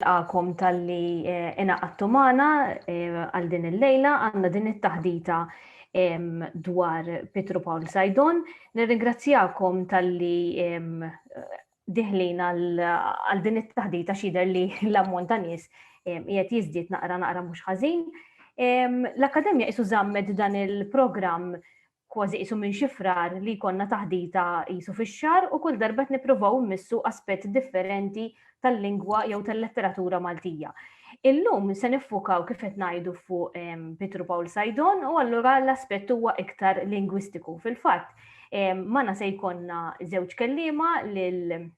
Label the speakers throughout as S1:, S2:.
S1: Nilqagħkom talli ingħaqadtu magħna għal din il-lejla. Għandna din it-taħdita dwar Pietru Pawl Sajdon. Nirringrazzjakom talli diħlin għal din it-taħdita xider li l-ammont ta' nies qiegħed jiżdied naqra naqra mhux ħażin. L-Akkademja qisu żammet dan il-programm kważi qisu minn xi frar li jkollna taħdita qisu fix-xahar u kull darba qed nippruvaw immissu aspett differenti tal-lingwa jew tal-letteratura Maltija. Illum se niffukaw kif qed ngħidu fuq ehm, Pietru Pawl Sajdon u allura l-aspett huwa iktar lingwistiku. Fil-fatt, ehm, mana se jkollna żewġ kelliema lil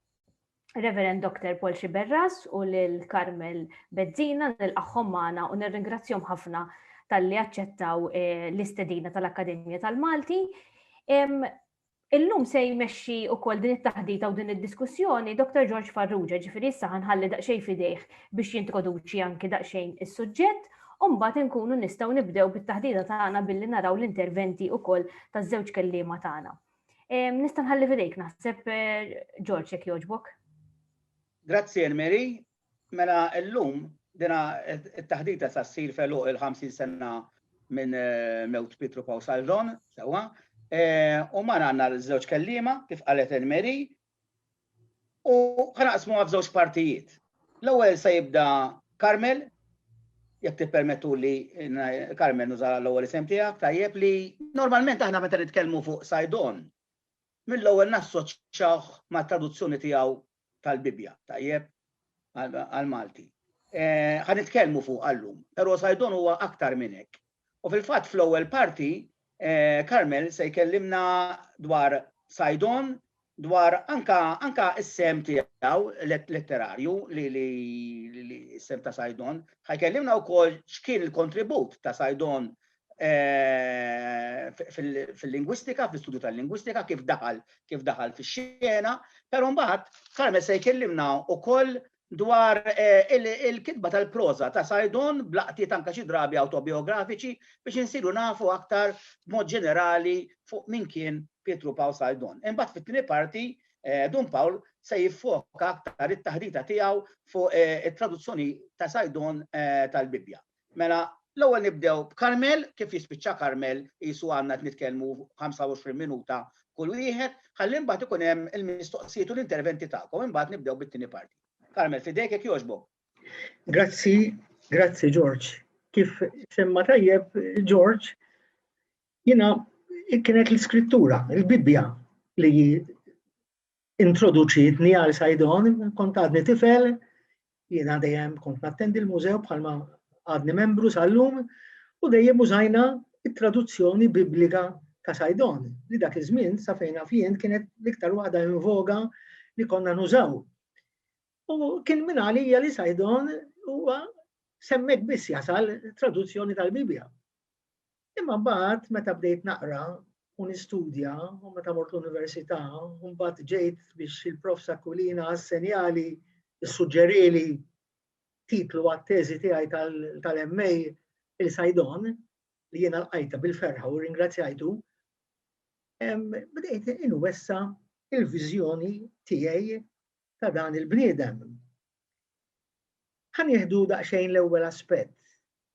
S1: Reverend Dr. Paul Xiberras u lil Carmel Bezzina nilqaħħom magħna u nirringrazzjom ħafna tal-li aċċettaw eh, l-istedina tal-Akkademja tal-Malti. Illum se jmexxi wkoll din it-taħdita u din id-diskussjoni Dr. George Farrugia, ġifieri issa ħanħalli daqsxejn fidejh biex jintroduċi anki daqsxejn is-suġġett Umbat nkunu nistaw nibdew bit-taħdida tagħna billi naraw l-interventi ukoll taż-żewġ kelliema tagħna. Nista' nħalli fidejk naħseb George jekk jogħġbok. Grazzi Mary. Mela llum dina t-taħdita sa ssir feluq il-50 sena minn mewt Pietru Pausaldon, sewwa. U mar għandna żewġ kellima kif qalet Mary U ħanaqsmuha f'żewġ partijiet. L-ewwel se jibda Carmel, jekk tippermettu li Carmel nuża l-ewwel isem tiegħek, tajjeb li normalment aħna meta nitkellmu fuq Sajdon, mill-ewwel nassoċjawh mat-traduzzjoni tiegħu tal-Bibbja, tajjeb, għall-Malti. Eh, ħa nitkellmu fuq għallum, però Sajdon huwa aktar minn hekk. U fil-fatt fl-ewwel parti Carmel se jkellimna dwar Saidon, dwar anka anka s-sehem tiegħu letterarju li li s-sehem ta' Saidon, ħa jkellimna wkoll x'kien il-kontribut ta' Saidon fil-lingwistika, fl-istudju tal-lingwistika, kif daħal kif daħal fix-xena, però mbagħad Carmel se jkellimna wkoll dwar il-kitba tal-proża ta' Saidon b'laqtiet anke xi drabi awtobijografiċi biex insiru nafu aktar b'mod ġenerali fuq min kien Pietru Pawl Saidon. Imbagħad fit-tieni parti Dun Pawl se jiffoka aktar it-taħdita tiegħu fuq it-traduzzjoni ta' Saidon tal-Bibbja. Mela, l-ewwel nibdew b'Karmel, kif jispiċċa Karmel qisu għandna qed nitkellmu 25 minuta kull wieħed, ħalli mbagħad ikun hemm il-mistoqsijiet u l-interventi tagħkom, imbagħad nibdew bit-tieni parti. Karmel, f'idejk jekk jogħġbok. Grazzi, grazzi George. Kif semma tajjeb George, jiena kienet l-iskrittura, il-Bibbja li introduċitni għal Sajdon, kont għadni tifel, jiena dejjem kont nattendi l-mużew bħalma għadni membru sal-lum, u dejjem użajna it-traduzzjoni biblika ta' Sajdon, li dak iż-żmien sa fejn fien kienet l-iktar waħda invoga li konna nużaw. U kien minn għalija li Sajdon huwa semmek biss jasal traduzzjoni tal-Bibja. Imma mbagħad meta bdejt naqra u nistudja u meta mort l-università u mbagħad ġejt biex il-Prof Sakulina assenjali ssuġġerieli titlu għat-teżi tiegħi tal-MA il-Sajdon li jiena lqajta bil-ferħa u ringrazzjajtu. Bdejt inwessa il-viżjoni tiegħi ta' dan il-bniedem Ħa nieħdu daqsxejn l-ewwel aspett.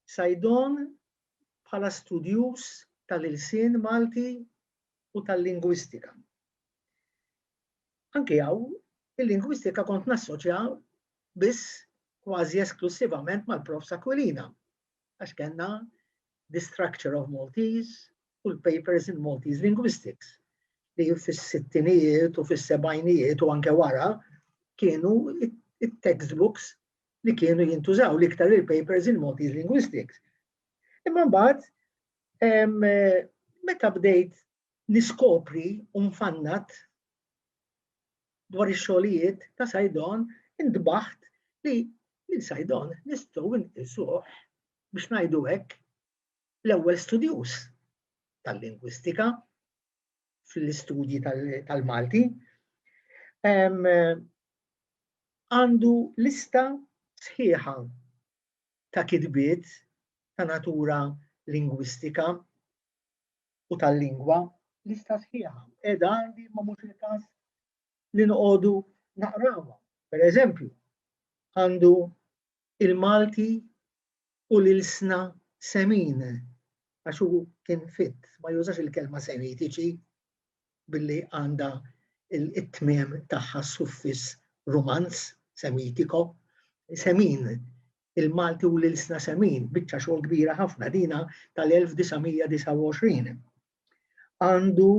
S1: Saidon bħala studjuż tal-ilsien Malti u tal-lingwistika. Anki hawn, il-lingwistika kont nassoċja biss kważi esklussivament mal-Profs Aquilina. għax kellna The Structure of Maltese u l-Papers in Maltese Linguistics li fis-sittinijiet u fis-sebajnijiet u anke wara kienu it-textbooks li kienu jintużaw li iktar il-papers in Maltese linguistics. Imma mbagħad meta bdejt niskopri u nfannad dwar ix-xogħlijiet ta' Saidon intbaħt li lil Saidon nistgħu nqisuh, biex ngħidu hekk, l-ewwel studjuż tal-lingwistika fl-istudji tal-Malti. Għandu lista sħiħa ta' kitbiet ta' natura lingwistika u tal-lingwa, lista sħiħa qiegħda għandi imma mhux il-każ li noqogħdu naqrawha. Per eżempju, għandu il-Malti u l-ilsna semin għax hu kien fit, ma jużax il-kelma semitiċi billi għandha it-tmiem tagħha suffiss rumanz, semitiko, semin il-Malti u l-Ilsna Semin, biċċa xogħol kbira ħafna dina tal-1929. Għandu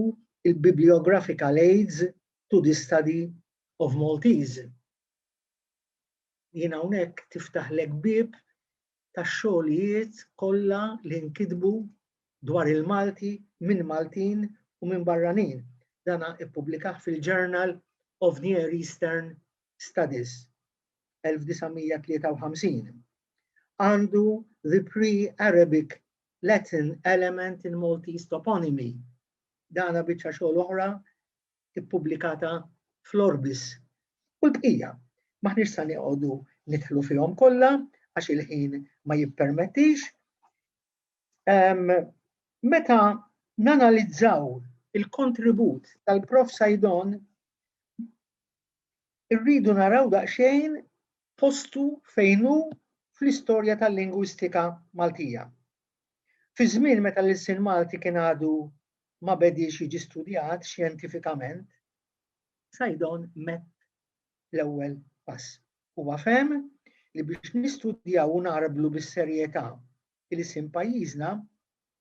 S1: il-Bibliographical Aids to the Study of Maltese. Jien hawnhekk tiftaħlek bib tax-xogħlijiet kollha li nkitbu dwar il-Malti minn Maltin u minn barranin. Dana ippubblikah fil-Journal of Near Eastern Studies 1953, għandu the pre-Arabic Latin element in Maltese toponymy. Dana biċċa xogħol oħra ippubblikata fl-Orbis. U l-bqija, maħniex sa nieqogħdu nidħlu fihom kollha għax il-ħin ma jippermettix. Um, meta nanalizzaw il-kontribut tal-Prof Sajdon irridu naraw daqsxejn postu fejn hu fl-istorja tal-lingwistika Maltija. Fi żmien meta l-ilsien Malti kien għadu ma bediex jiġi studjat xjentifikament, Saidon mett l-ewwel pass. Huwa fehem li biex nistudjaw u ngħarblu bis-serjetà ilsien pajjiżna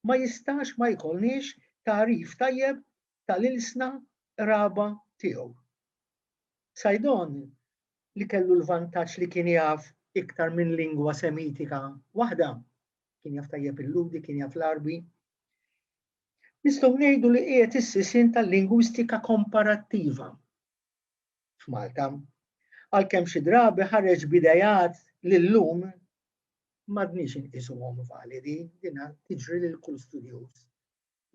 S1: ma jistax ma jkollniex tagħrif tajjeb tal-ilsna qraba tiegħu. Saidon, li kellu l-vantaġġ li kien jaf iktar minn lingwa Semitika waħda, kien jaf tajjeb il-Lhudi, kien jaf l-Għarbi, nistgħu ngħidu li qiegħed is-sisien tal-lingwistika komparattiva f'Malta, għalkemm xi drabi ħareġ b'ideat li llum m'għadniex inqisuhom validi, din tiġri lil kull studjuż.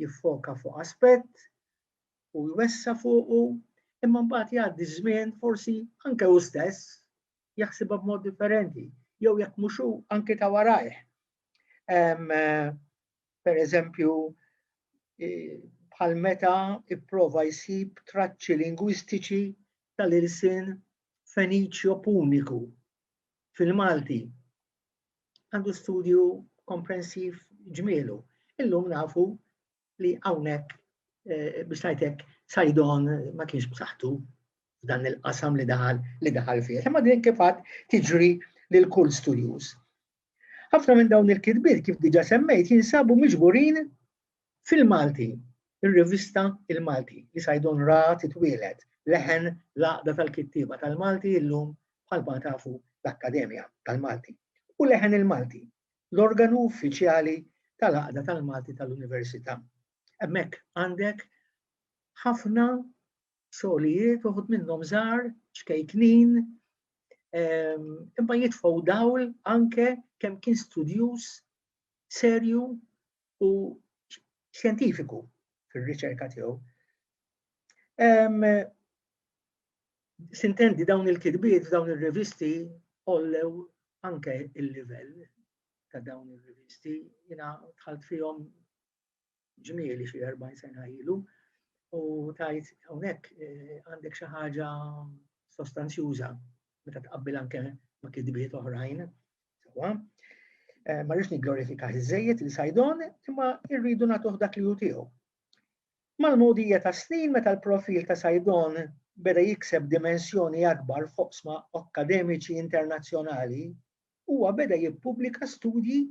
S1: jiffoka fuq aspett u jwessa' fuqu, imma mbagħad jgħaddi ż-żmien forsi anke hu stess jaħsibha b'mod differenti, jew jekk mhux hu anke ta' warajh. Per eżempju, bħal meta ipprova jsib traċċi lingwistiċi tal-ilsien Feniċjo Puniku fil-Malti. għandu studju komprensiv ġmielu. Illum nafu li hawnhekk eh, biex tajtek sajdon ma kienx b'saħħtu f'dan il-qasam li daħal li daħal fih. Imma din kif tiġri lil kull studjuż. Ħafna minn dawn il-kitbiet kif diġa semmejt jinsabu miġburin Fil-Malti, ir-rivista Il-Malti li Saidon ra titwieled, leħen l-Għaqda tal-Kittieba tal-Malti illum bħalma tafu l-Akkademja tal-Malti, u Leħen il-Malti, l-organu uffiċjali tal-Għaqda tal-Malti tal-Università. Hemmhekk għandek ħafna xogħlijiet uħud minnhom żgħar, ċkejknin, ehm, imma jitfgħu dawl anke kemm kien studjuż serju u xjentifiku fir-riċerka tiegħu. Sintendi dawn il-kitbiet f'dawn ir-revisti ollew anke il-livell ta' dawn ir-revisti jiena dħalt fihom ġmieli xi 40 sena ilu u tajt hawnhekk eh, għandek xi ħaġa sostanzjuża meta tqabbil anke ma' kitbiet oħrajn Sewwa. Eh, ma rridx nigglorifika iżejjed li sajdon, imma irridu nagħtuh dak li hu tiegħu. Mal-modija ta' snin meta l-profil ta' sajdon beda jikseb dimensjoni akbar foqsma akkademiċi internazzjonali, huwa beda jippubblika studji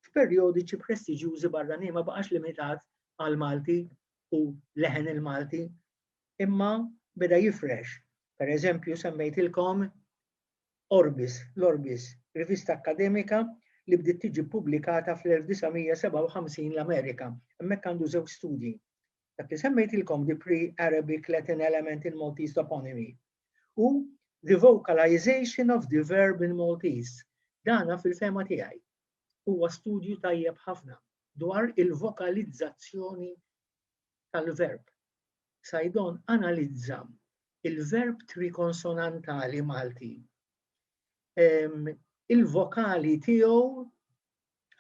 S1: f'perjodiċi prestiġjużi barranin ma baqax limitat għal Malti u leħen il-Malti, imma beda jifrex. Per eżempju, semmejtilkom Orbis, l-Orbis, rivista akkademika li bdiet tiġi ppubblikata fl-1957 l-Amerika. Hemmhekk għandu żewġ studji. Dak li semmejtilkom, The Pre-Arabic Latin Element in Maltese Toponymy, u The Vocalization of the Verb in Maltese. Dana fil-fehma tiegħi huwa studju tajjeb ħafna dwar il-vokalizzazzjoni tal-verb. Saidon analizza il-verb trikonsonantali Malti. Il-vokali tiegħu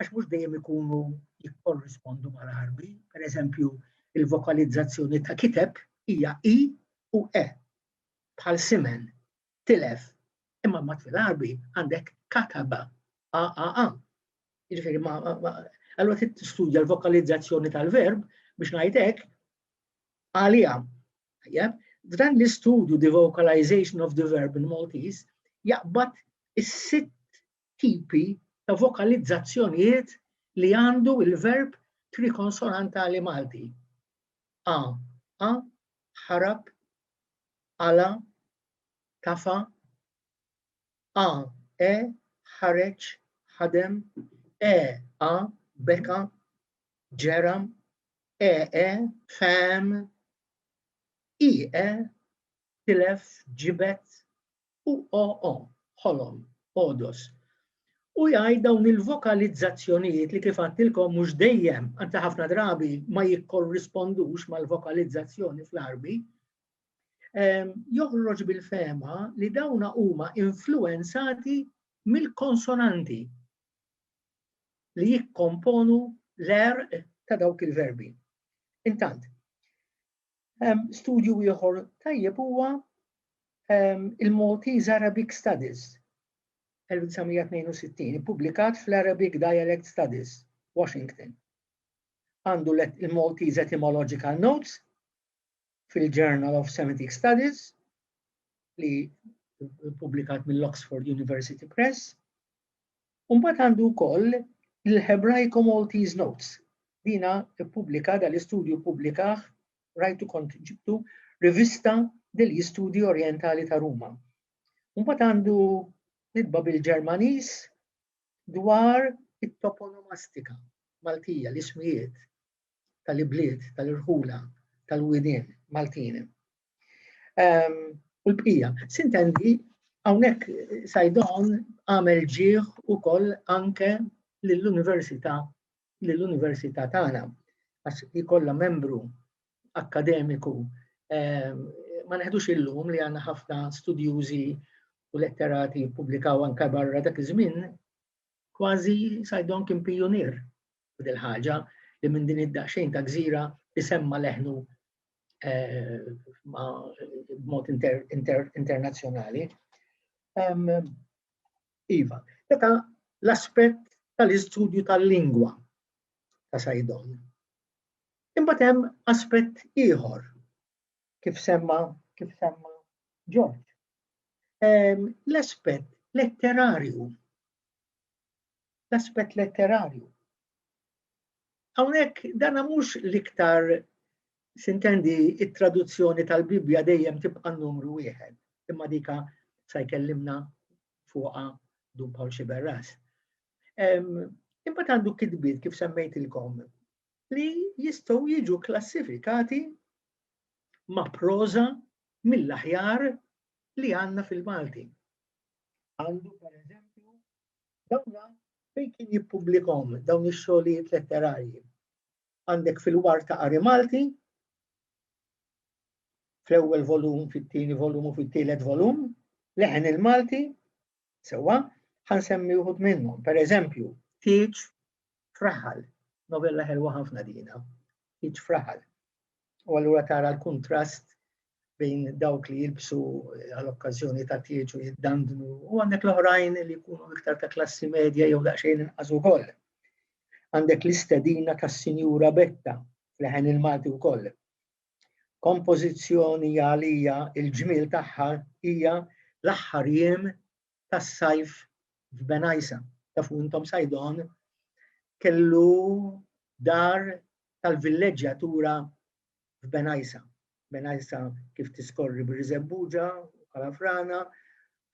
S1: għax mhux dejjem ikunu jikkorrispondu mal-Arbi, per eżempju, il-vokalizzazzjoni ta' kiteb hija i u e bħal simen tilef, imma mbagħad fil-Għarbi għandek kataba, AAA. Jiġifieri ma allura trid tistudja l-vokalizzazzjoni tal-verb biex ngħid hekk għaliha. Tajjeb, dan l-istudju the vocalization of the verb in Maltese jaqbad is-sitt tipi ta' vokalizzazzjonijiet li għandu il-verb trikonsonantali Malti. A, a, ħarab, ala, tafa, a, e, ħareġ, ħadem, e, a, beka, ġera, e, e, fam, i, e, tilef, ġibet, u o, o, ħolom, odos u jgħid dawn il-vokalizzazzjonijiet li kif għattilkom mhux dejjem, għanta ħafna drabi ma jikkorrispondux mal-vokalizzazzjoni fl-arbi, joħroġ bil-fema li dawna huma influenzati mill-konsonanti li jikkomponu l-er ta' dawk il-verbi. Intant, studju ieħor tajjeb huwa il-Maltese Arabic Studies 1962, publikat fl-Arabic Dialect Studies, Washington. Għandu il-Maltese Etymological Notes, fil-Journal of Semitic Studies li publikat mill-Oxford University Press. Umbat għandu wkoll il-Hebraico Maltese Notes. Dina publika dal-istudju publikaħ rajtu kont ġibtu rivista degli studi orientali ta' Ruma. Umbat għandu nitba bil-Ġermanis dwar it-toponomastika Maltija, l-ismijiet tal-ibliet, tal-irħula, tal-widien Maltin. Ehm, u l-bqija, sintendi hawnhekk Sajdon għamel ġieħ ukoll anke lill-Università lill-Università tagħna għax jkollha membru akkademiku ehm, ma neħdux illum li għandna ħafna studjużi u letterati pubblikaw anke barra dak iż-żmien, kważi Sajdon kien pijunier u dil-ħaġa li minn din id-daqxejn ta' gżira isemma leħnu eh, b'mod internazzjonali. Iva, meta l-aspett tal-istudju tal-lingwa ta' Sajdon. Imbagħad hemm aspett ieħor kif semma kif semma George. L-aspett letterarju l-aspett letterarju. Hawnhekk dan mhux l-iktar sintendi it-traduzzjoni tal-Bibbja dejjem tibqa' numru wieħed, imma dika sa jkellimna fuqha Dun Paul Xiberras. Imbagħad għandu kitbiet kif semmejtilkom li jistgħu jiġu klassifikati ma' proża mill-aħjar li għandna fil-Malti. għandu pereżempju dawna fejn kien jippubblikahom dawn ix-xogħlijiet letterarji. Għandek fil-war ta' Qari Malti, fl-ewwel volum, fit-tieni volum u fit-tielet volum, leħen il-Malti, sewwa, ħansemmi wħud minnhom, pereżempju, tieġ Fraħal, novella ħelwa ħafna dina, iġ fraħal. U allura tara l-kuntrast bejn dawk li jilbsu eh, għal-okkazjoni ta' tieġu jiddandnu u għandek l-oħrajn li jkunu iktar ta' klassi medja jew daqsxejn inqas ukoll. Għandek l-istedina ta' Sinjura Betta fl-ħen il-Malti wkoll. Kompożizzjoni għalija il-ġmiel tagħha hija l-aħħar jiem tas-sajf f'Benajsa. Tafu intom Sajdon kellu dar tal-villeġġjatura f'Benajsa. Benajsa kif tiskorri bir-Riżebbuġa, Kalafrana,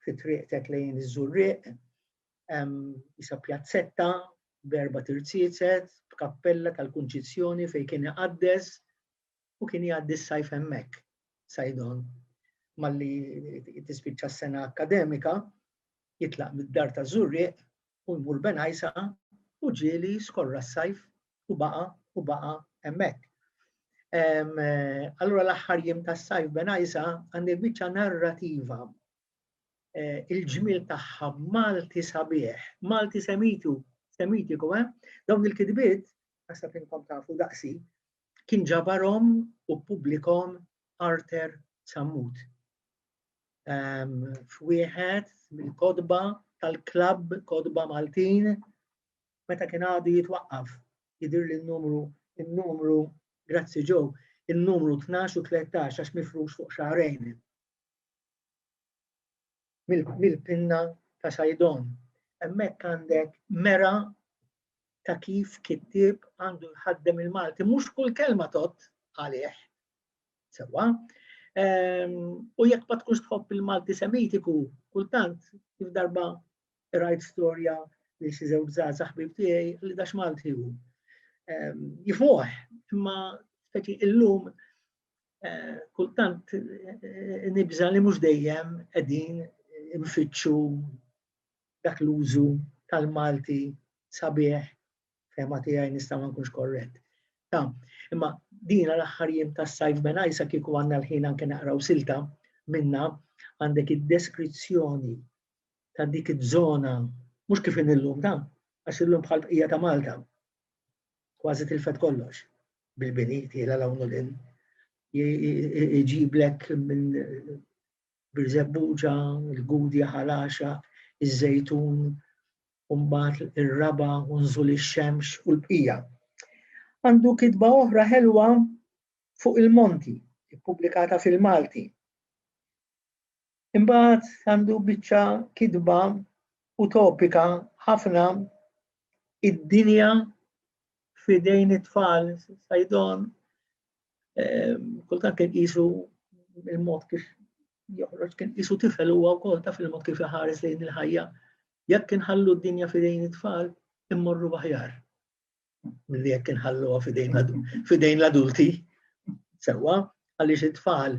S1: fi triqtek lejn iż-Żurriq, jisa pjazzetta b'erba' tirziezet, b'kappella tal-Kunċizzjoni fejn kien iqaddes u kien jgħaddi s-sajf hemmhekk, Saidon, malli tispiċċa s-sena akkademika, jitlaq mid-dar ta' Żurrieq u jmur Benajsa u ġieli skorra s-sajf u baqa' u baqa' hemmhekk. Allura l-aħħar jiem tas-sajf Benajsa għandi biċċa narrativa eh, il-ġmiel tagħha Malti sabiħ, Malti semitu, semitiku, eh? Dawn il-kitbiet, għasta tinkom tafu daqsi, kien ġabarhom u ppubblikhom Arthur Sammut f'wieħed mill-kotba tal-klabb Kotba Maltin meta kien għadu jitwaqqaf jidir li n-numru n-numru grazzi ġo n-numru 12 u 13 għax mifrux fuq xahrejn. mill-pinna ta' Saidon. Hemmhekk għandek mera ta' kif kittieb għandu jħaddem il-Malti. Mhux kull kelma tot għalih. Sewwa. Ehm, u jekk ma tkunx tħobb il-Malti Semitiku, kultant kif darba rajt storja li xi żewġ żgħażagħ ħbib tiegħi li dax Malti hu. Ehm, Jifuħ, imma speċi illum eh, kultant eh, nibża li mhux dejjem qegħdin nfittxu dak l-użu tal-Malti sabiħ fema tiegħi nista' ma nkunx korrett. Ta, imma dina l-aħħar jiem tas-sajf benajsa kieku għandna l-ħin anke naqraw silta minna għandek id-deskrizzjoni ta' dik iż-żona mhux kif illum ta' għax illum bħal bqija ta' Malta. kważi tilfet kollox bil-bini tiela l-hawn u l-in. Iġiblek minn Birzebbuġa, il-Gudja ħalaxa, iż-Żejtun, umbat ir-raba u nżul ix-xemx u l-bqija. Għandu kitba oħra ħelwa fuq il-monti, ippubblikata fil-Malti. Imbagħad għandu biċċa kitba utopika ħafna id-dinja f'idejn it-tfal sajdon kultant kien qisu il-mod kif joħroġ kien qisu tifel huwa wkoll taf il-mod kif iħares lejn il-ħajja. Jekk inħallu d-dinja f'idejn it-tfal, immorru aħjar. milli jekk inħalluha fidejn l-adulti. Sewwa, għaliex it-tfal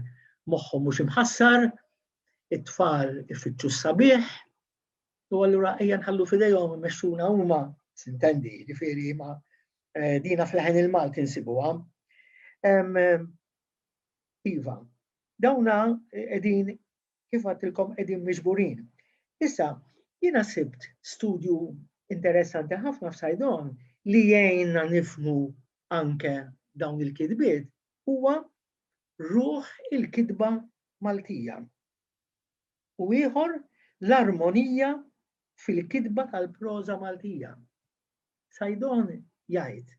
S1: moħħhom mhux imħassar, it-tfal ifittxu s-sabiħ, u allura ejja nħallu fidejhom imexxuna huma sintendi, ġifieri ma eh, dina fl-ħen il-Malti nsibuha. Iva, dawna qegħdin kif għattilkom qegħdin miġburin. Issa, jiena sibt studju interessanti ħafna f'Sajdon li jgħinna nifmu anke dawn il-kitbiet huwa ruħ il-kitba Maltija. U ieħor l-armonija fil-kitba tal-proża Maltija. Sajdon jgħid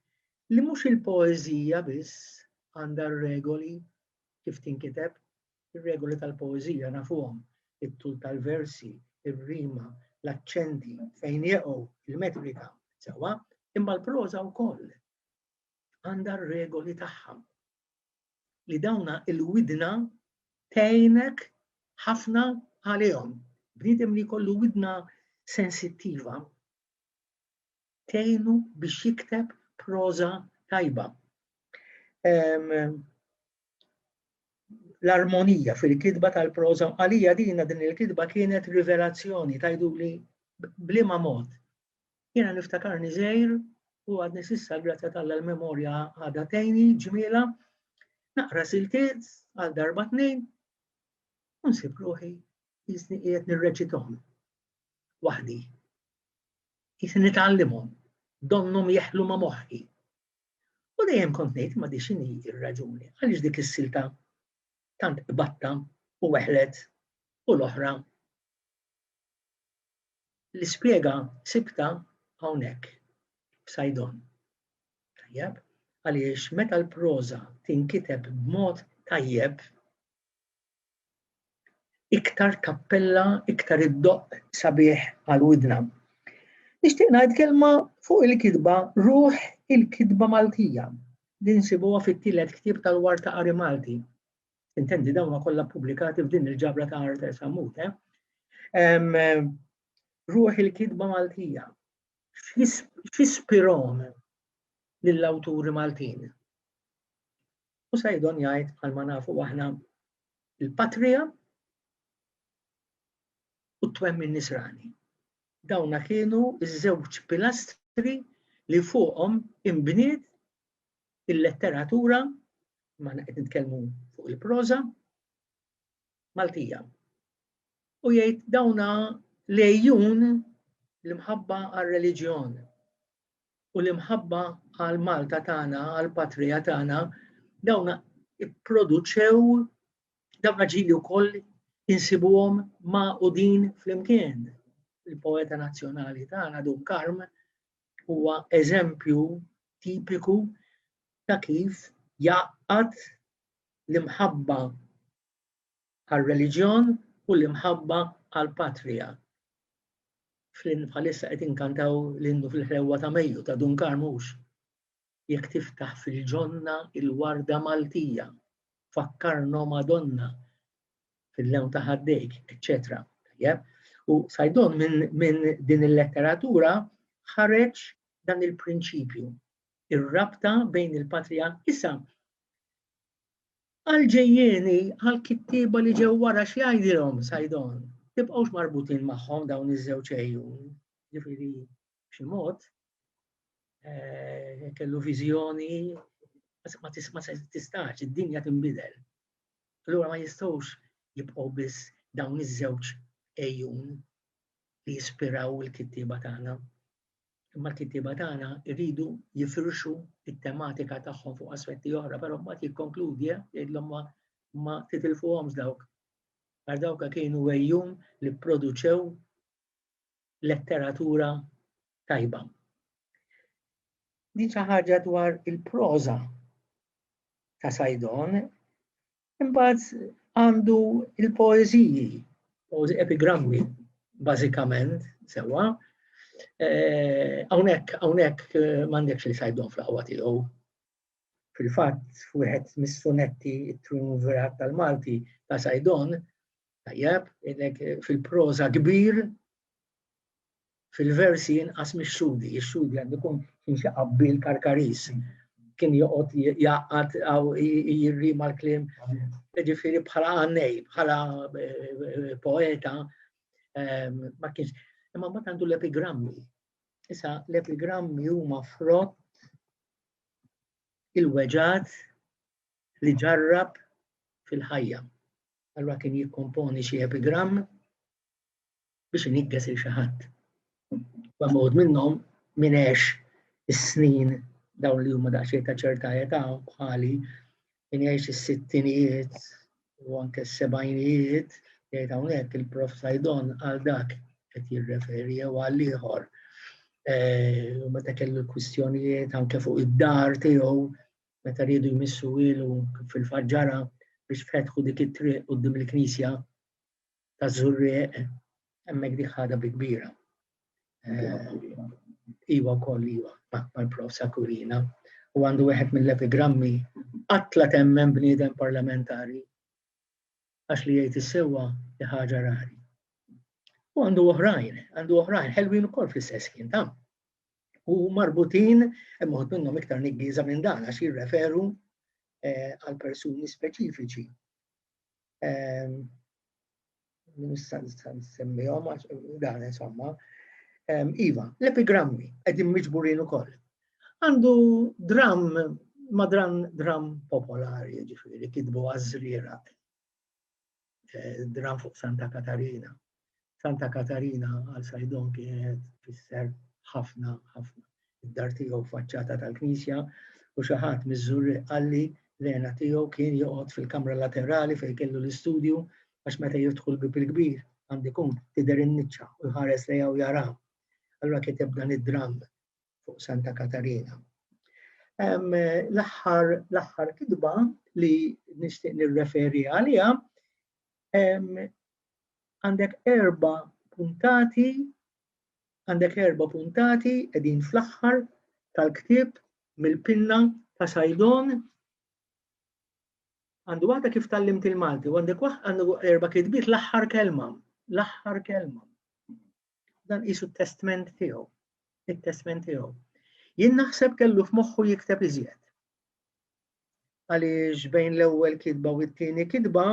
S1: li mhux il-poeżija biss għandha regoli kif tinkiteb, Ir-regoli tal-poeżija nafuhom, it-tul tal-versi, ir-rima, l-aċċenti, fejn jeqgħu, il-metrika, sewwa, imma l-proża wkoll għandha r-regoli tagħha. Li dawna il-widna tgħinek ħafna għalihom. Bniedem li jkollu widna sensittiva tgħinu biex jikteb proża tajba. l-armonija fil-kitba tal-proża. Għalija dina din il-kitba kienet rivelazzjoni tajdu li blima mod. Jiena niftakarni żejr u għadni sissa grazzja tal l-memorja għada tejni ġmiela naqra siltiet għal darba tnejn u nsib ruħi jisni qiegħed nirreċithom waħdi. Jisni nitgħallimhom, donnhom jeħlu ma' moħħi. U dejjem kont ngħid ma di x'inhi r-raġuni għaliex dik is-silta tant qbadtha u weħlet u l-oħra l-ispjega sibta hawnhekk f'Sajdon. Tajjeb, għaliex meta l-proża tinkiteb b'mod tajjeb, iktar tappella, iktar iddoqq sabiħ għal widna. Nixtieq ngħid kelma fuq il-kitba Ruħ il-Kitba Maltija li nsibuha fit-tielet ktieb tal-War ta' Qari Malti. Intendi dawn kollha ppubblikati f'din il-ġabra ta' Arthur Sammut. Eh? Ruħ il-kitba Maltija. X'ispirom lill-awturi Maltin? u Saidon jgħid bħalma nafu aħna il-patrija u t-twemmin nisrani. Dawna kienu iż-żewġ pilastri li fuqhom imbniet il-letteratura ma qed nitkellmu fuq il-proża Maltija. U jgħid dawna lejjun l-imħabba għar-reliġjon u l-imħabba għal Malta tagħna, għal patrija tagħna, dawn ipproduċew dawn ġili wkoll insibuhom ma' u din flimkien. Il-poeta nazzjonali tagħna Dun Karm huwa eżempju tipiku ta' kif jaqgħad l-imħabba għar-reliġjon u l-imħabba għall-patrija. Flynn bħalissa qed inkantaw l-innu fil-ħlewwa ta' Mejju ta' Dun Karmux. Jekk tiftaħ fil-ġonna il-warda Maltija, fakkarno Madonna fil-lewn ta' ħaddejk, eċċetera. U Sajdon minn din il-letteratura ħareġ dan il-prinċipju, ir-rabta bejn il-patrija. Issa, Għal-ġejjieni, għal-kittieba li ġew wara x'jgħidilhom Sajdon, tibqgħux marbutin magħhom dawn iż-żewġ għejjun. Ġifieri b'xi mod eh, kellu viżjoni ma tisma' se tistax, id-dinja tinbidel. Allura ma jistgħux jibqgħu biss dawn iż-żewġ għejjun li jispiraw il-kittieba tagħna. Imma l-kittieba tagħna jridu jifirxu t-tematika tagħhom fuq aspetti oħra, però mbagħad jikkonkludi eh, jgħidlhom ma ma titilfuhomx dawk. Għar dawk kienu għejjum li produċew letteratura tajba. Din xi ħaġa dwar il-proża ta' Sajdon Imbagħad għandu il-poeżiji, poeżi epigrammi, bażikament, sewwa. Eh, hawnhekk hawnhekk eh, m'għandekx li sajdhom fl-aqwa tiegħu. Fil-fatt, wieħed mis-sunetti it-triumvirat tal-Malti ta' Sajdon, tajjeb, fil-proża kbir, fil-versi inqas mix-xhudi. Ix-xhudi għandu jkun kien xi qabbil karkaris. Kien joqgħod jaqgħad aw jirri mal-kliem. Ġifieri bħala għannej, bħala eh, poeta ehm, ma kienx. Imma ma għandu l-epigrammi. Issa l-epigrammi huma frott il-weġat li ġarrab fil-ħajja. Allura kien jikkomponi xi epigramm biex iniggeż il xi ħadd. Huwa mod minnhom min għex is-snin dawn li huma daqsxejn ta' ċerta età bħali min jgħix is-sittinijiet u anke s-sebgħinijiet jgħid hawnhekk il-prof Sajdon għal dak qed jirreferi jew għal ieħor. E, u meta kellu l-kwistjonijiet anke fuq id-dar tiegħu meta rridu jmissu ilu fil-faġġara biex fetħu dik it-triq qudiem il-knisja ta' zurrieq, hemmhekk dik ħada bi kbira. Eh, iwa wkoll iwa, akbar prosa kurina. U għandu wieħed mill-epigrammi qatla temmen bniedem parlamentari għax li jgħid is-sewwa li ħaġa rari. U għandu oħrajn, għandu oħrajn, ħelwin ukoll fl-istess kien tam. U marbutin, imħod minnhom iktar niggiża minn dan għax jirreferu eh, għal persuni speċifiċi. nista' nsemmihom għax dan insomma. Iva, l-epigrammi qegħdin miġburin ukoll. Għandu dram madran dram popolari, ġifieri kitbu għażriera eh, dram fuq Santa Katarina. Santa Katarina għal Sajdon kienet fisser ħafna ħafna. Id-dar tiegħu faċċata tal-knisja u xi ħadd miż-żurri qalli l-għena tiegħu kien joqgħod fil-kamra laterali fejn kellu l-istudju għax meta jiftħu l-bib il-kbir għandi kun tidher in-niċċa u jħares lejha u jara. Allura kiteb dan id-dramm fuq Santa Katarina. L-aħħar l-aħħar kitba li nixtieq nirreferi għaliha għandek erba puntati, għandek erba puntati edin fl-axħar tal-ktib mill-pinna ta' Sajdon. Għandu għada kif tal-limt il-Malti, għandek waħd għandu erba kitbiet l-axħar kelma, l-axħar kelma. Dan isu testment tiegħu, il testment tiegħu. Jien naħseb kellu f'moħħu jikteb iżjed. għaliex bejn l-ewwel kitba u t-tieni kitba,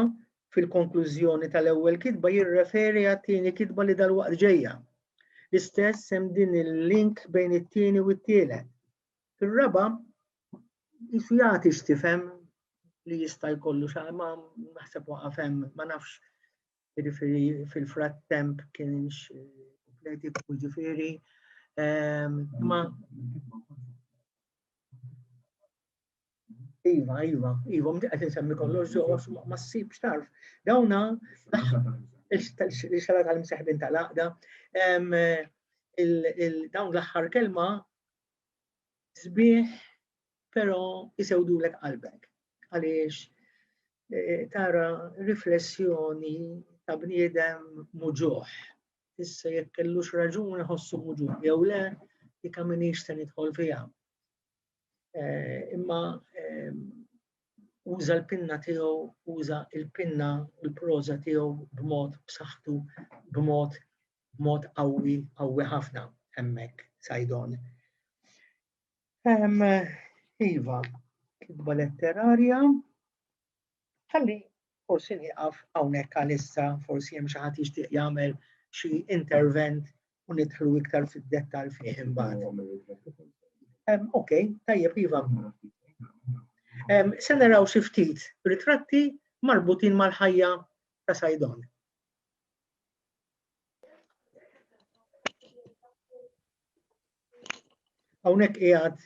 S1: fil-konklużjoni tal-ewwel kitba jirreferi għat-tieni kitba li dalwaqt ġejja. L-istess hemm din il-link bejn it-tieni u t-tielet. Fir-raba' jisu jagħti x'tifhem li jista' jkollu xa ma naħseb waqaf hemm, ma nafx jiġifieri fil-frattemp kienx kompleti jiġifieri. Ehm, ma Iva, iva, iva, mdi qed insemmi kollox ġewwa ma ssibx tarf. Dawna il-xala tal-imseħbin tal-għaqda dawn l-aħħar kelma sbieħ però isewdulek qalbek għaliex e, tara riflessjoni ta' bniedem muġuħ. Issa jekk kellux raġuni ħossu muġuħ jew le, dikka minix se nidħol fiha. imma uża l-pinna tiegħu, uża l-pinna u l-proża tiegħu b'mod b'saħħtu, b'mod b'mod qawwi, qawwi ħafna hemmhekk sajdon. Iva, kitba letterarja, Ħalli forsi nieqaf hawnhekk għalissa, forsi hemm xi ħadd jixtieq jagħmel xi intervent u nidħlu iktar fid-dettall fih imbagħad. Ok, tajjeb iva. Se naraw xi ftit ritratti marbutin mal-ħajja ta' Sajdon. Hawnhekk qiegħed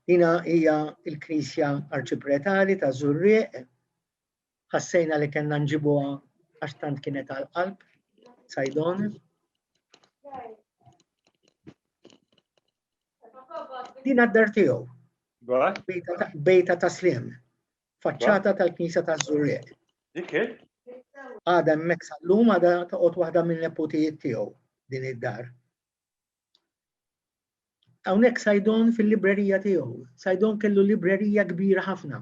S1: Dina hija il-Knisja Arċipretali ta' Zurrieq. Ħassejna li kellna nġibuha għax tant kienet għal qalb Sajdon. Dina d-dar tiegħu. Bejta ta' slim. faċċata tal-Knisja ta' Żurrieq. Dik Għada hemmhekk sal-lum għada toqgħod waħda minn neputijiet tiegħu din id-dar. Hawnhekk Sajdon fil-librerija tiegħu. Sajdon kellu librerija kbira ħafna.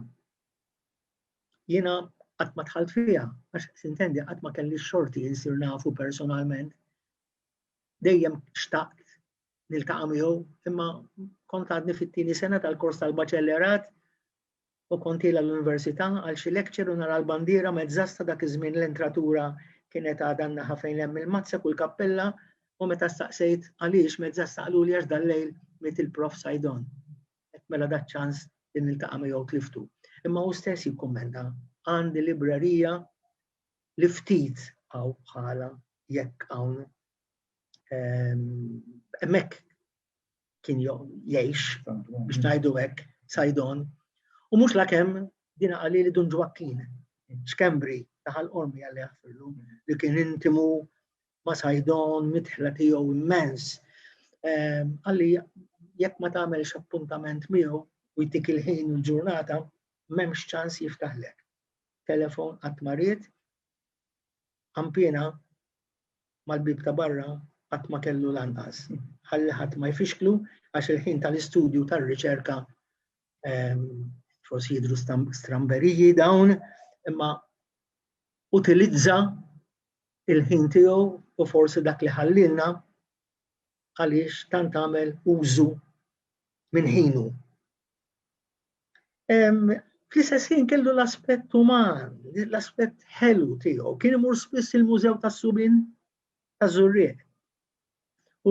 S1: Jiena qatt ma tħalt fiha, għax sintendi qatt ma kelli xorti insir nafu personalment. Dejjem xtaqt niltaqa' miegħu, imma kont għadni fit-tieni sena tal-kors tal-baċellerat u kont ilha l-università għal xi lecture u nara l-bandiera mezzasta dak iż-żmien l-entratura kienet għadha n-naħa fejn hemm il-mazzek u l-kappella u meta staqsejt għaliex mezzasta qaluli għax dal-lejl miet il-Prof Saidon. Għedt mela da ċ-ċans li niltaqa' miegħu tliftu. Imma hu stess jikkummenta, għandi librerija li ftit hawn bħalha jekk hawn hemmhekk kien jgħix biex ngħidu hekk sajdon. U mhux lakemm dina qalli li Dun Ġwakkin, xkembri taħal qormi għalli jaħfirlu, li kien intimu ma sajdon mitħla tiegħu immens. Għalli ehm, jekk ma tagħmelx appuntament miegħu u jtik il-ħin u l-ġurnata, m'hemmx ċans jiftaħlek. Telefon qatt marid, Ħampiena mal-bieb ta' barra qatt ma kellu lanqas ħalli ħadd ma jfixklu għax il-ħin tal-istudju tar-riċerka forsi jidhru stramberiji dawn imma utilizza il-ħin tiegħu u forsi dak li ħallilna għaliex tant għamel użu minn ħinu. Fl-istess ħin kellu l-aspett uman, l-aspett ħelu tiegħu, kien imur spiss il-Mużew tas-Subin ta' Żurrieq.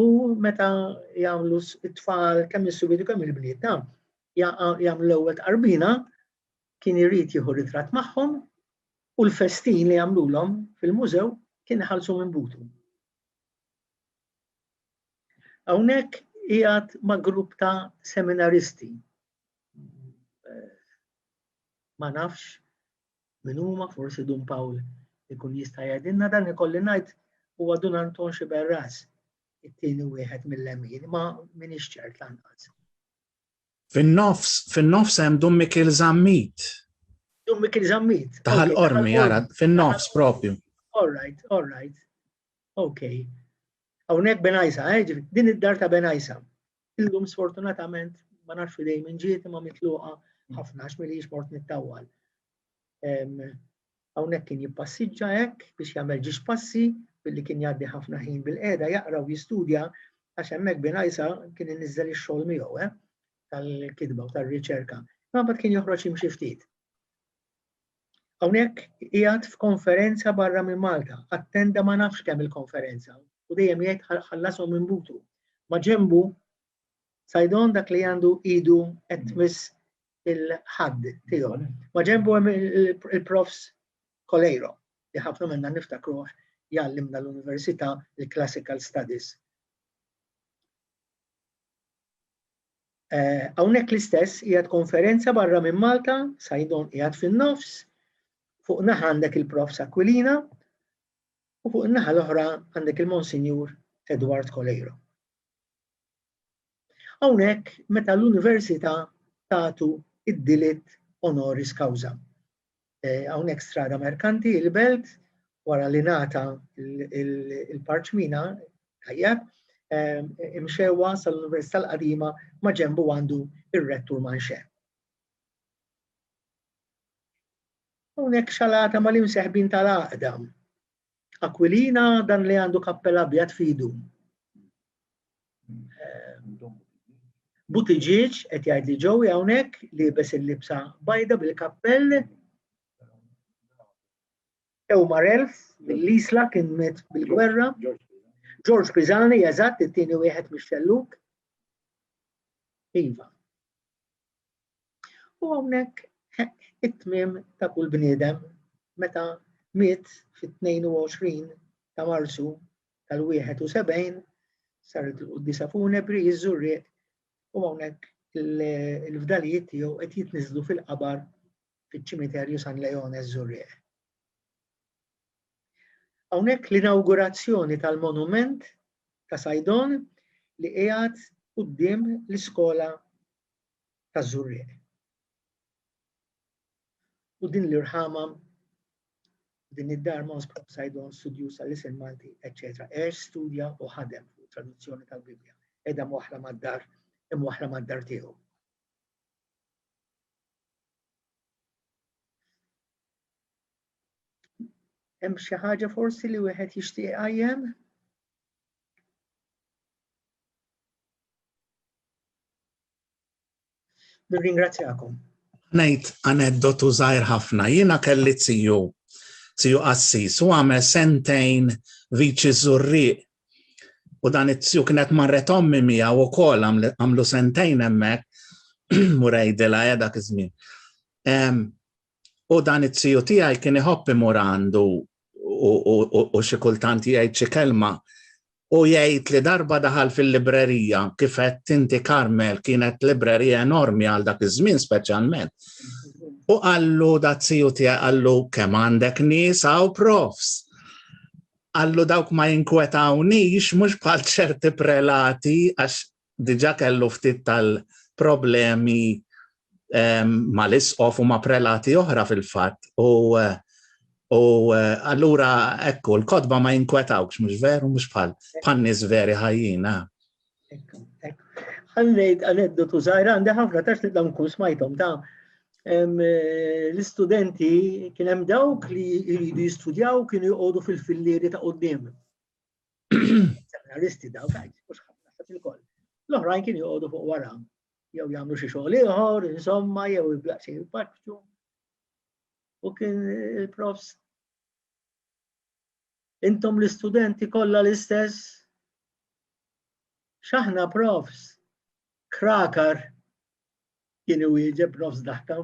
S1: U meta jagħmlu t-tfal kemm is-subin u kemm il-bliet ta' jagħmlu l-ewwel tqarbina, kien irid jieħu ritratt magħhom u l-festin li jagħmlulhom fil-mużew kien ħalsu minn butu. Hawnhekk qiegħed ma' grupp ta' seminaristi. Ma nafx min huma forsi Dun Pawl ikun jista' jgħidilna dan ikolli ngħid huwa Dun Anton Xiberras it-tieni wieħed mill-lemin, ma minix ċert lanqas. Fin-nofs, fin-nofs hemm Dun Mikil Zammit. Dun Mikil Zammit. Taħal qormi, jara, fin-nofs propju. All right, all right. Okay. Hawnhekk Benajsa, eh, jiġifieri din id-dar ta' Benajsa. Illum sfortunatament ma nafx fidej minn ġiet imma mitluqa ħafna għax milix mort nittawwal. Hawnhekk kien jippassiġġa hekk biex jagħmel ġiex passi billi kien jgħaddi ħafna ħin bil-qiegħda jaqra u jistudja għax hemmhekk binajsa kien inniżżel ix-xogħol miegħu eh, tal-kitba u tar-riċerka. Ma bad kien joħroġ jimxi ftit. Hawnhekk qiegħed f'konferenza barra minn Malta, attenda ma nafx kemm il-konferenza u dejjem jgħid ħallasthom minn butu. Ma' ġenbu Saidon dak li għandu idu qed tmiss il-ħadd tiegħu. Ma' ġenbu hemm il-profs Coleiro li ħafna minna niftakruh jgħallimna l-università il-classical studies. Eh, hawnhekk l-istess qiegħed konferenza barra minn Malta, Sajdon qiegħed fin-nofs, fuq naħa għandek il-Prof Sakwilina u fuq naħa l-oħra għandek il-Monsinjur Edward Kolejro. Hawnhekk meta l-Università tagħtu id-dilit honoris causa. eh, hawnhekk strada merkanti, il-belt, wara li nata il-parċmina, tajjeb, eh, imxewa sal-Università l-Qadima ma ġembu għandu ir-rettur manxe. Hawnhekk xalata mal-imseħbin tal-għaqda Aquilina dan li għandu kappell abjad fidu. Butiġiġ qed jgħid li ġew hawnhekk li bes il-libsa bajda bil-kappell. Ewmar Elf mill-Isla kien met bil-gwerra. George Pisani eżatt it-tieni wieħed mix-xelluk. Iva. U hawnhekk it-tmiem ta' kull bniedem meta miet fit-22 ta' Marzu tal-71 saret il-Quddisa Funebri jiżżurriq u hawnhekk il-fdalijiet tiegħu qed jitniżlu fil-qabar fiċ-ċimiterju San Leone Żurrieq. Hawnhekk l-inawgurazzjoni tal-monument ta' Sajdon li qiegħed quddiem l-iskola taż-żurrieq. U din l-irħama din id-dar Mons Propsaidon studjusa l-isem Malti, etc. Għex studja u ħadem fuq traduzzjoni tal-Bibbja. Edha mwaħla mad-dar, imwaħla mad-dar tiegħu. Hemm xi ħaġa forsi li wieħed jixtieq qajjem? Nirringrazzjakom. Ngħid aneddotu żgħir ħafna. Jiena kelli tiju, tiju qassis, u għamel sentejn viċi żurriq. U dan it-tiju kienet marret ommi mija u kol għamlu sentejn hemmhekk murejdila ja dak iż-żmien. U dan it-tiju tiegħi kien iħobb imur għandu u xi kultant jgħid xi kelma u jgħid li darba daħal fil-librerija kif qed tinti Karmel kienet librerija enormi għal dak iż-żmien speċjalment. U qallu da tiju tiegħi qallu kemm għandek nies hawn profs. Qallu dawk ma jinkwetawnix mhux bħal ċerti prelati għax diġa kellu ftit tal-problemi ehm, ma l-isqof u ma prelati oħra fil-fat. U eh, U eh, allura ekku, l-kodba ma jinkwetawx, mux veru, mux bħal, bħal nis veri ħajjina. Ekku, ekku. Għannejt aneddotu zaħra, għandi ħafna tax li dam kun smajtom ta' eh, l-istudenti kien hemm dawk li jridu jistudjaw kienu jgħodu fil-fillieri ta' qoddim. Seminaristi daw ta' jisbux ħafna sa' fil-koll. L-oħrajn kien joqogħdu fuq wara, jew jagħmlu xi xogħol ieħor, insomma, jew il-blaqsi jibbaċċu. U kien il-profs. Intom l-istudenti kollha l-istess. X'aħna profs, krakar kien iwieġeb nofs daħka.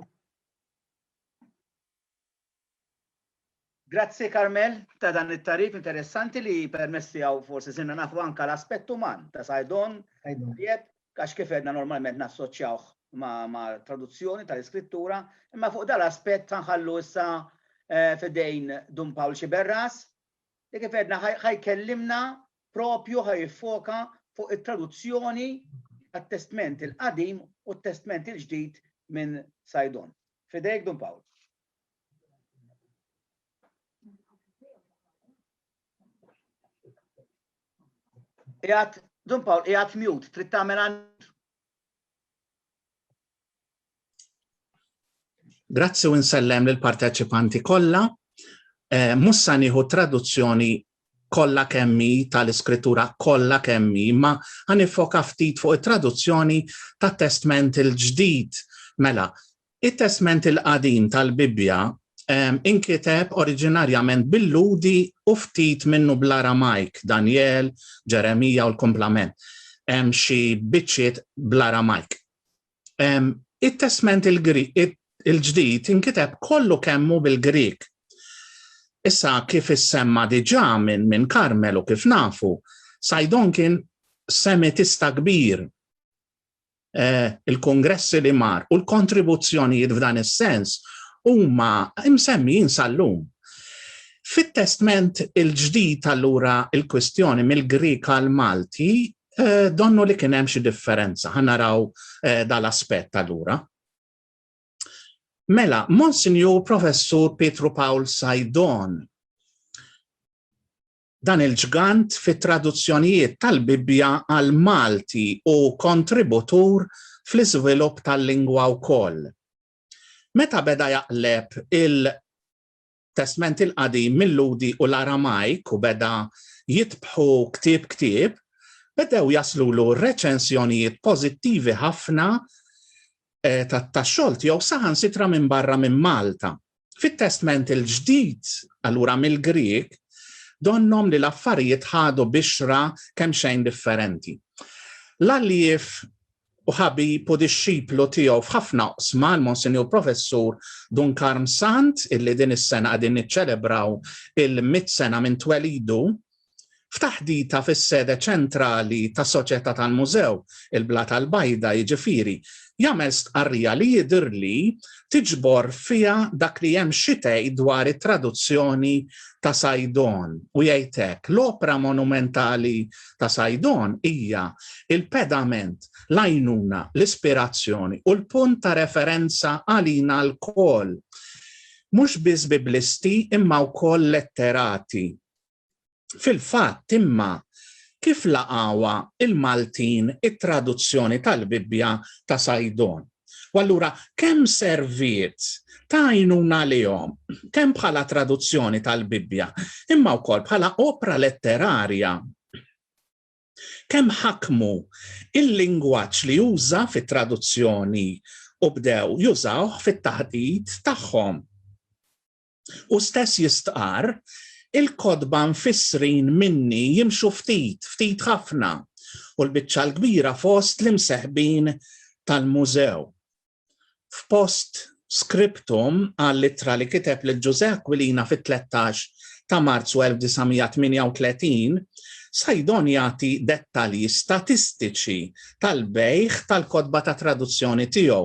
S1: Grazzi Carmel ta' dan it-tagħrif interessanti li permezz tiegħu forsi sirna nafu anke l-aspett uman ta' Saidon. Tajjeb, għax kif għedna normalment nassoċjawh ma' traduzzjoni tal-iskrittura, imma fuq dan l-aspett ħanħallu issa f'idejn Dun Pawl Sciberras li kif għedna ħajkellimna proprju ħa jiffoka fuq it-traduzzjoni tat-Testment il-Qadim u t-Testment il-Ġdid minn Saidon. F'idejk Dun Pawl. Qiegħed Dun Pawl qiegħed mute, trid tagħmel għand. Grazzi u nsellem lil parteċipanti kollha. Eh, Mussa nieħu traduzzjoni kollha kemmi tal-iskrittura kollha kemmi, ma ħanifoka ftit fuq it-traduzzjoni tat-testment il-ġdid. Mela, it-testment il-qadim tal-Bibbja inkiteb oriġinarjament bil-Ludi u ftit minnu bl-Aramajk, Daniel, Ġeremija u l-komplement. Hemm xi biċċiet bl-Aramajk. It-testment il-ġdid inkiteb kollu kemmu bil-Grik. Issa kif issemma diġà minn min Karmel u kif nafu, Sajdon kien Semitista kbir. Eh, il-kongressi li mar u l-kontribuzzjonijiet f'dan is-sens huma msemmijin sal-lum. Fit-testment il-ġdid allura il-kwistjoni mill-Grik għal Malti Eh, donnu li kien hemm xi differenza, ħanaraw eh, dal-aspett allura. Mela, Monsinjur Professur Pietru Paul Sajdon, dan il-ġgant fit traduzzjonijiet tal-Bibbja għal Malti u kontributur fl-iżvilupp tal-lingwa wkoll. Meta beda jaqleb il Testment il-Qadim mil-Lhudi u l-Aramajk u beda jitbħu ktieb ktieb, bedew jaslulu reċensjonijiet pożittivi ħafna tax-xogħol tiegħu saħansitra minn barra minn Malta. Fit-Testment il-Ġdid, allura mill-Grieg, donnhom li l-affarijiet ħadu bixra kemxejn differenti. L-għallief u ħabib u dixxiplu tiegħu f'ħafna oqsma, l-Monsinjur Professur Dun Karm Sant, illi din is-sena qegħdin niċċelebraw il-mitt sena minn twelidu, f'taħdita fis-sede ċentrali tas-Soċjetà tal-Mużew, il-Blata l-Bajda, jiġifieri, jagħmel stqarrija li jidhirli tiġbor fiha dak li hemm xi tgħid dwar it-traduzzjoni ta' Saidon u jgħid hekk, L-opra monumentali ta' Saidon hija l-pedament, l-għajnuna, l-ispirazzjoni u l-punt ta' referenza għalina lkoll, mhux biss Biblisti imma wkoll letterati. Fil-fatt, imma, kif laqgħuha l-Maltin it-traduzzjoni tal-Bibbja ta' Saidon? U allura kemm serviet ta' għajnuna għalihom, kemm bħala traduzzjoni tal-Bibbja, imma wkoll bħala opra letterarja. Kemm ħakmu il-lingwaġġ li uża fit-traduzzjoni u bdew jużawh fit-taħdit tagħhom. U stess jistqarr, Il-kotba mfissrin minni jimxu ftit, ftit ħafna, u l-biċċa l-kbira fost l-imseħbin tal-Mużew. F'post scriptum għall-ittra li kiteb lil Ġużè Aquilina fit-13 ta' Marzu 1938, Saidon jagħti dettalji statistiċi tal-bejgħ tal-kotba ta' traduzzjoni tiegħu.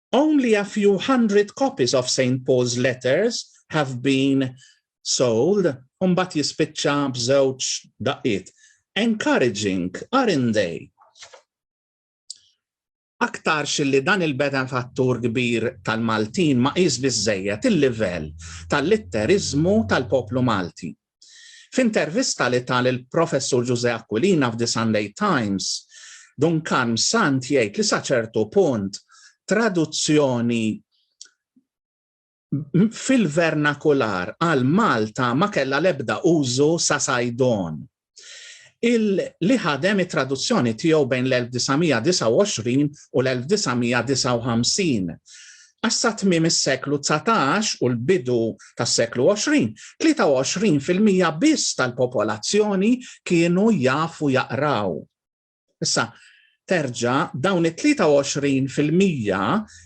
S1: Only a few hundred copies of Saint Paul's letters have been sold u mbagħad jispiċċa b'żewġ daqqiet. Encouraging, aren't they? aktar xilli dan il-beda fattur kbir tal-Maltin ma qis biżejjed il-livell tal-litterizmu tal-poplu Malti. F'intervista li ta lill-Professur Ġużè Aquilina f'The Sunday Times, Dun Karm Sant jgħid li sa ċertu punt traduzzjoni fil-vernakular għal Malta ma kellha l-ebda użu sa Saidon li ħadem it-traduzzjoni tiegħu bejn l-1929 u l-1959. għax sa tmiem is-seklu dsatax u l-bidu tas-seklu għoxrin, tlieta u għoxrin fil-mija biss tal-popolazzjoni kienu jafu jaqraw. Issa, terġa' dawn it-tlieta u għoxrin fil-mija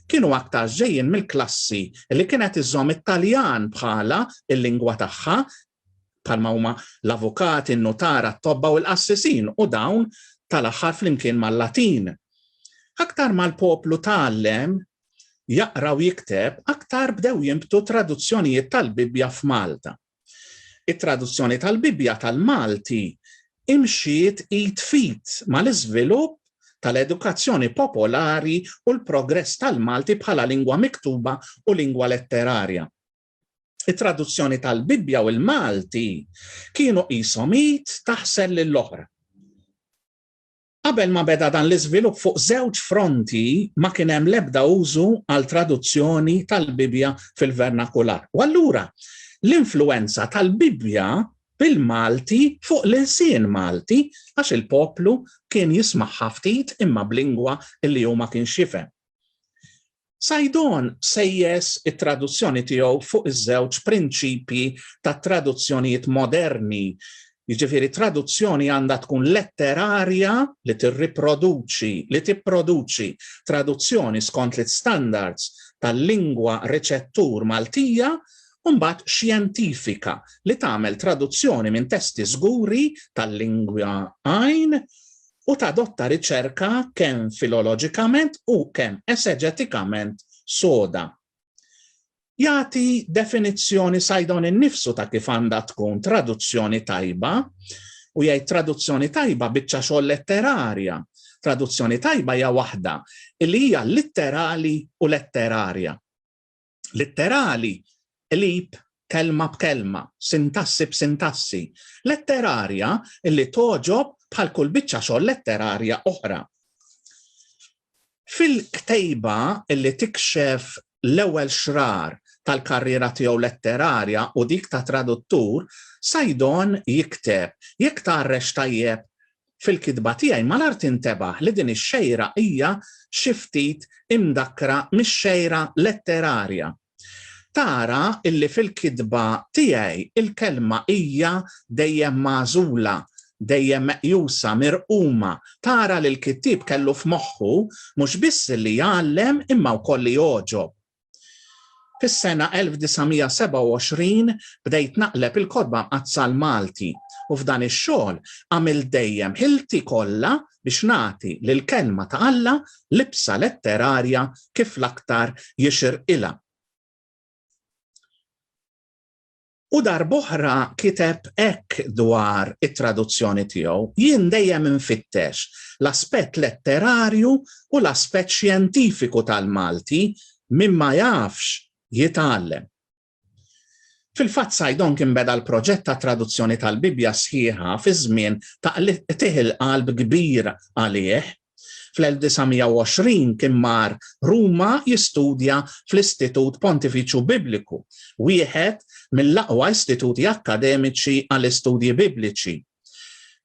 S1: kienu aktarx ġejjin mill-klassi li kienet iżżomm it-Taljan bħala l-lingwa tagħha bħalma huma l-avukati, n-nutara, t-tobba u l-qassisin, u dawn tal-aħħar flimkien mal-Latin. Aktar ma l-poplu tgħallem jaqra u jikteb, aktar bdew jinbtu traduzzjonijiet tal-Bibbja f'Malta. It-traduzzjoni tal-Bibbja tal-Malti imxiet id f'id mal-iżvilupp tal-edukazzjoni popolari u l-progress tal-Malti bħala lingwa miktuba u lingwa letterarja. it-traduzzjoni tal-Bibbja u l-Malti kienu qishom id taħsel lill-oħra. Qabel ma beda dan l-iżvilupp fuq żewġ fronti ma kien hemm l-ebda użu għal traduzzjoni tal-Bibbja fil-vernakular. U allura l-influenza tal-Bibbja bil-Malti fuq l-insien Malti għax il-poplu kien jismaħħa ftit imma b'lingwa li huma kien xifem. Saidon sejjes it-traduzzjoni tiegħu fuq iż-żewġ prinċipji tat-traduzzjonijiet moderni, jiġifieri traduzzjoni għandha tkun letterarja li tirriproduċi, li tipproduċi, traduzzjoni skont l-istandards tal-lingwa riċettur Maltija u mbagħad xjentifika li tagħmel traduzzjoni minn testi żguri tal-lingwa għajn u tadotta riċerka kemm filoloġikament u kemm eseġetikament soda. Jagħti definizzjoni Saidon innifsu ta' kif għandha tkun traduzzjoni tajba u jgħid traduzzjoni tajba biċċa xogħol letterarja. Traduzzjoni tajba hija waħda li hija litterali u letterarja. litterali, qlib kelma b'kelma, sintassi b'sintassi, letterarja li togħġob bħal kull biċċa xogħol letterarja oħra. Fil-ktejba li tikxef l-ewwel xrar tal-karriera tiegħu letterarja u dik ta' traduttur, Sajdon jikteb jekk tarrex tajjeb Fil-kitba tiegħi malar tintebaħ li din ix-xejra hija xi ftit imdakkra mix-xejra letterarja. Tara illi fil-kitba tiegħi il-kelma hija dejjem magħżula, dejjem meqjusa, mirquma. Tara li l-kittieb kellu f'moħħu mhux biss li jgħallem imma wkoll li jogħġob. Fis-sena 1927 bdejt naqleb il-Kotba Mqaddsa l-Malti u f'dan ix-xogħol għamilt dejjem ħilti kollha biex nagħti lill-Kelma ta' Alla libsa letterarja kif l-aktar jixirqilha. U darb'oħra kiteb hekk dwar it-traduzzjoni tiegħu, Jien dejjem infittex l-aspett letterarju u l-aspett xjentifiku tal-Malti, min ma jafx, jitgħallem. Fil-fatt Saidonk inbeda l-proġett tat-traduzzjoni tal-Bibbja sħiħa fi żmien ta' qtigħ il-qalb kbir għalih, Fl-1920 kien mar Ruma jistudja fl-Istitut Pontifiċju Bibliku, wieħed mill-aqwa istituti akkademiċi għall-istudji Bibliċi.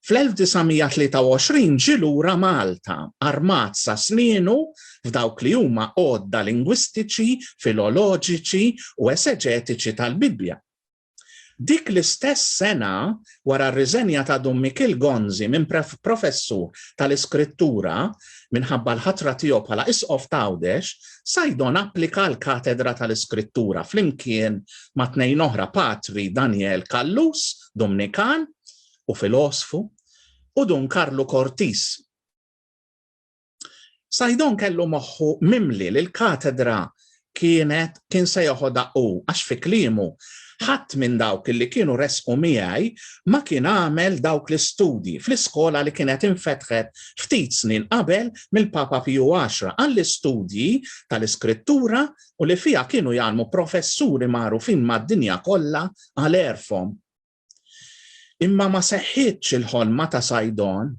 S1: Fl-1923 ġie lura Malta, armat sa snienu f'dawk li huma għodda lingwistiċi, filoloġiċi u eseġetiċi tal-Bibbja. Dik l-istess sena, wara r-riżenja ta' Dun Mikiel Gonzi minn professur tal-Iskrittura minħabba l-ħatra tiegħu bħala Isqof t'Għawdex, Saidon applika għall-katedra tal-Iskrittura flimkien ma' tnejn oħra Patri Daniel Callus, Dumnikan u filosfu, u Dun Karlu Cortis. Saidon kellu moħħu mimli li l-katedra kienet kien se joħodha u għax fi kliemu ħadd minn dawk li kienu resqu miegħi ma kien għamel dawk l-istudji fl-iskola li kienet infetħet ftit snin qabel mill-Papa Piju 10 għall-istudji tal-iskrittura u li fiha kienu jgħalmu professuri magħrufin mad-dinja kollha għal erfhom. Imma ma seħħitx il-ħolma ta' Sajdon,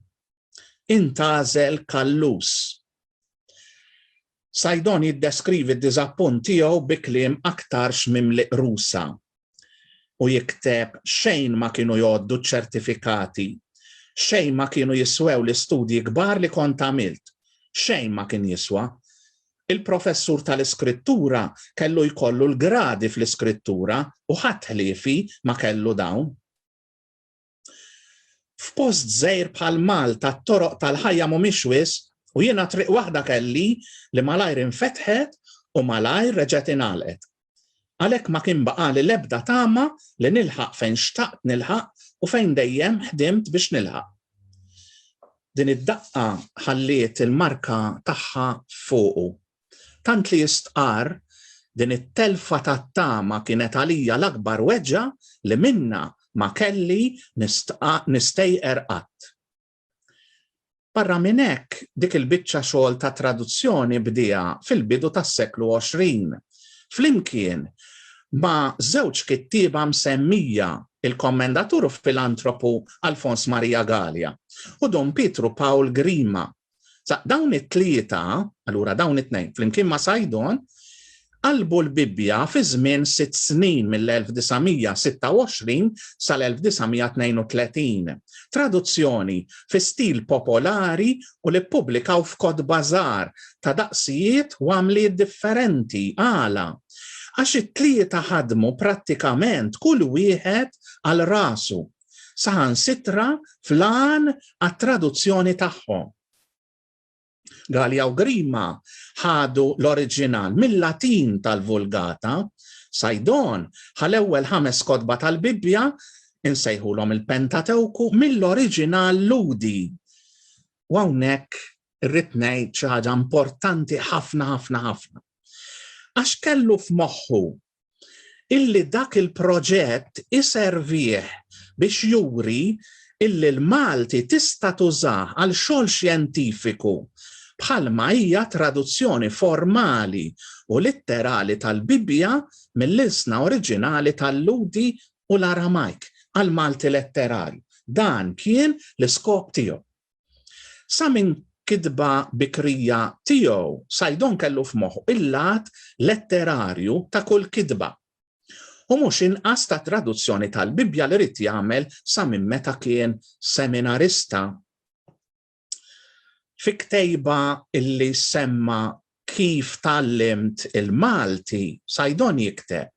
S1: intgħażel Kallus. Sajdon jiddeskrivi d-diżappunt tiegħu bi kliem aktarx mimli qrusa u jikteb xejn ma kienu jgħoddu ċ-ċertifikati, xejn ma kienu jiswew l-istudji kbar li kont għamilt, xejn ma kien jiswa, Il-professur tal-Iskrittura kellu jkollu l-gradi fl-Iskrittura u ħadd ħliefi ma kellu dawn. F'post żgħir bħal Malta t-toroq tal-ħajja mhumiex wisq u jiena triq waħda kelli li malajr infetħet u malajr reġgħet ingħalqet. Għalhekk ma kien baqagħli l-ebda tama li nilħaq fejn xtaqt nilħaq u fejn dejjem ħdimt biex nilħaq. Din id-daqqa ħalliet il-marka tagħha fuqu. Tant li jistqarr, din it-telfa tat-tama kienet għalija l-akbar weġgħa li minnha ma kelli nistgħajqer qatt. Barra minn hekk, dik il-biċċa xogħol ta' traduzzjoni bdiha fil-bidu tas-seklu 20, flimkien ma' żewġ kittieba msemmija, il-kommendatur u filantropu Alfons Maria Galea u Dun Pietru Pawl Grima. Sa dawn it-tlieta, allura dawn it-tnejn, flimkien ma' Saidon, Qalbu l-Bibbja fi żmien sitt snin mill-1926 sal-1932. Traduzzjoni fi stil popolari u li ppubblikaw f'kotba żgħar ta' daqsijiet u għamliet differenti. Għala? Għax it-tlieta ħadmu prattikament kull wieħed għal rasu, saħansitra fl-għan għat-traduzzjoni tagħhom. Gallia u Grima ħadu l-oriġinal mil-Latin tal-Vulgata, Sajdon ħa l-ewwel ħames kotba tal-Bibbja, insejħulhom il-Pentatewku, mill-oriġinal Lhudi. U hawnhekk irrid ngħid xi ħaġa importanti ħafna ħafna ħafna. Għax kellu f'moħħu illi dak il-proġett iservih biex juri illi l-Malti tista' tużah għal xogħol xjentifiku bħalma hija traduzzjoni formali u litterali tal-Bibbja mill-ilsna oriġinali tal-Lhudi u l-Aramajk għall-Malti letterarju. Dan kien l-iskop tiegħu. Sa minn kitba bikrija tiegħu, Saidon kellu f'moħħu il-lat letterarju ta' kull kitba, u mhux inqas tat-traduzzjoni tal-Bibbja li ried jagħmel sa minn meta kien seminarista. Fi ktejba li semma Kif tgħallimt il-Malti? Saidon jikteb,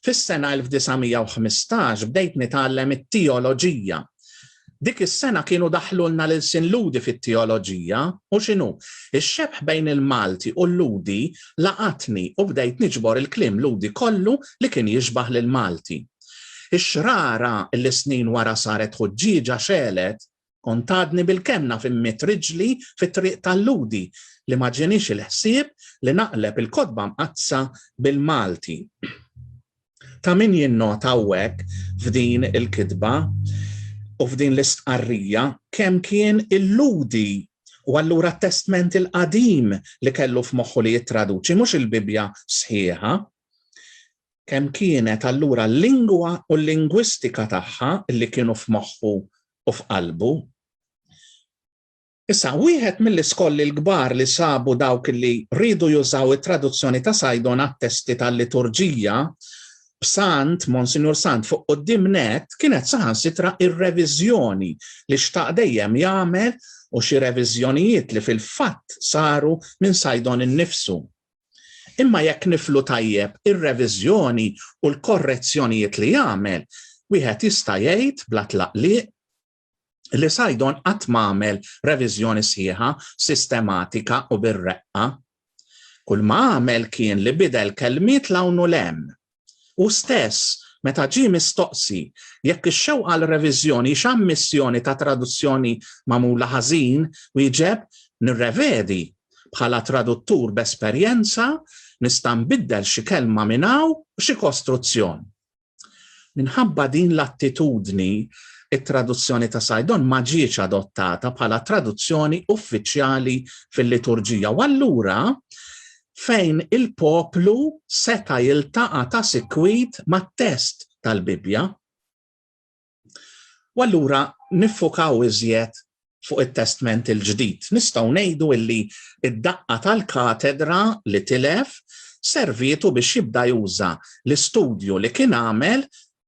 S1: Fis-sena 1915 bdejt nitgħallem it-teoloġija. Dik is-sena kienu daħħlulna l-ilsien Lhudi fit-teoloġija u x'inhu, ix-xebħ bejn il-Malti u l-Lhudi laqatni u bdejt niġbor il-kliem Lhudi kollu li kien jixbah lill-Malti. Ix-xrara li snin wara saret ħuġġieġa xegħlet Kont għadni bilkemm naf immidd riġli fit-triq tal-Lhudi li ma ġienix il-ħsieb li naqleb il-Kotba Mqaddsa bil-Malti. Ta' min jinnota hawnhekk f'din il-kitba u f'din l-istqarrija kemm kien il-Lhudi u allura t-Testment il-Qadim li kellu f'moħħu li jittraduċi mhux il-Bibbja sħiħa, Kemm kienet allura l-lingwa u l-lingwistika tagħha li kienu f'moħħu u f'qalbu. Issa, wieħed mill-iskolli l-kbar li sabu dawk li riedu jużaw it-traduzzjoni ta' Sajdon għat-testi tal-liturġija b'Sant, Monsinjur Sant fuq qudiem net kienet saħansitra ir-reviżjoni li xtaq dejjem jagħmel u xi reviżjonijiet li fil-fatt saru minn Sajdon innifsu. Imma jekk niflu tajjeb ir-reviżjoni u l-korrezzjonijiet li għamel, wieħed jista' jgħid bla tlaqliq li Saidon qatt m'għamel reviżjoni sħiħa, sistematika u bir-reqqa. Kulma għamel kien li bidel kelmiet 'l hawn u 'l hemm. Hu stess, meta ġie mistoqsi jekk ix-xewqa għal reviżjoni hix ammissjoni ta' traduzzjoni magħmula ħażin, wieġeb, Nirrevedi. Bħala traduttur b'esperjenza, nista' nbiddel xi kelma minn hawn u xi kostruzzjon. Minħabba din l-attitudni, it-traduzzjoni ta' Sajdon ma ġietx adottata bħala traduzzjoni uffiċjali fil-liturġija u allura fejn il-poplu seta' jiltaqa' ta' sikwit mat-test tal-Bibbja. U allura niffukaw iżjed fuq it-Testment il-Ġdid. Nistgħu ngħidu illi d-daqqa tal-katedra li tilef servietu biex jibda juża l-istudju li kien għamel,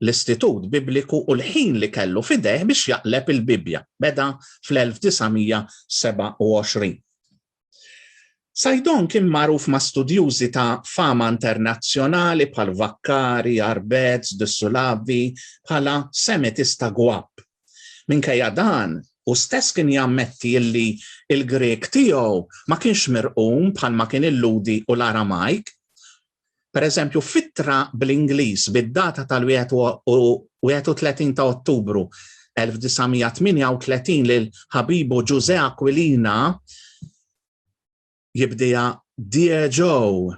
S1: l-istitut Bibliku u l-ħin li kellu f'idejh biex jaqleb il-Bibbja. Beda fl-1927. Saidon kien magħruf ma' studjużi ta' fama internazzjonali bħal Vaccari, Arbez, de Sulavi bħala Semitista gwapp. Minkejja dan, hu stess kien jammetti illi l-Grieg tiegħu ma kienx mirqum bħalma kien illudi u l-Aramajk, Pereżempju, f'ittra bl-Ingliż bid-data tal-31 ta' Ottubru 1938 lil ħabibu Ġużè Aquilina jibdiha Dear Joe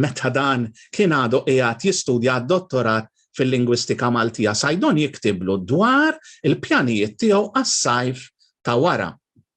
S1: meta dan kien għadu qiegħed jistudja d-dottorat fil-lingwistika Maltija, Saidon jiktiblu dwar il-pjanijiet tiegħu għas-sajf ta' wara.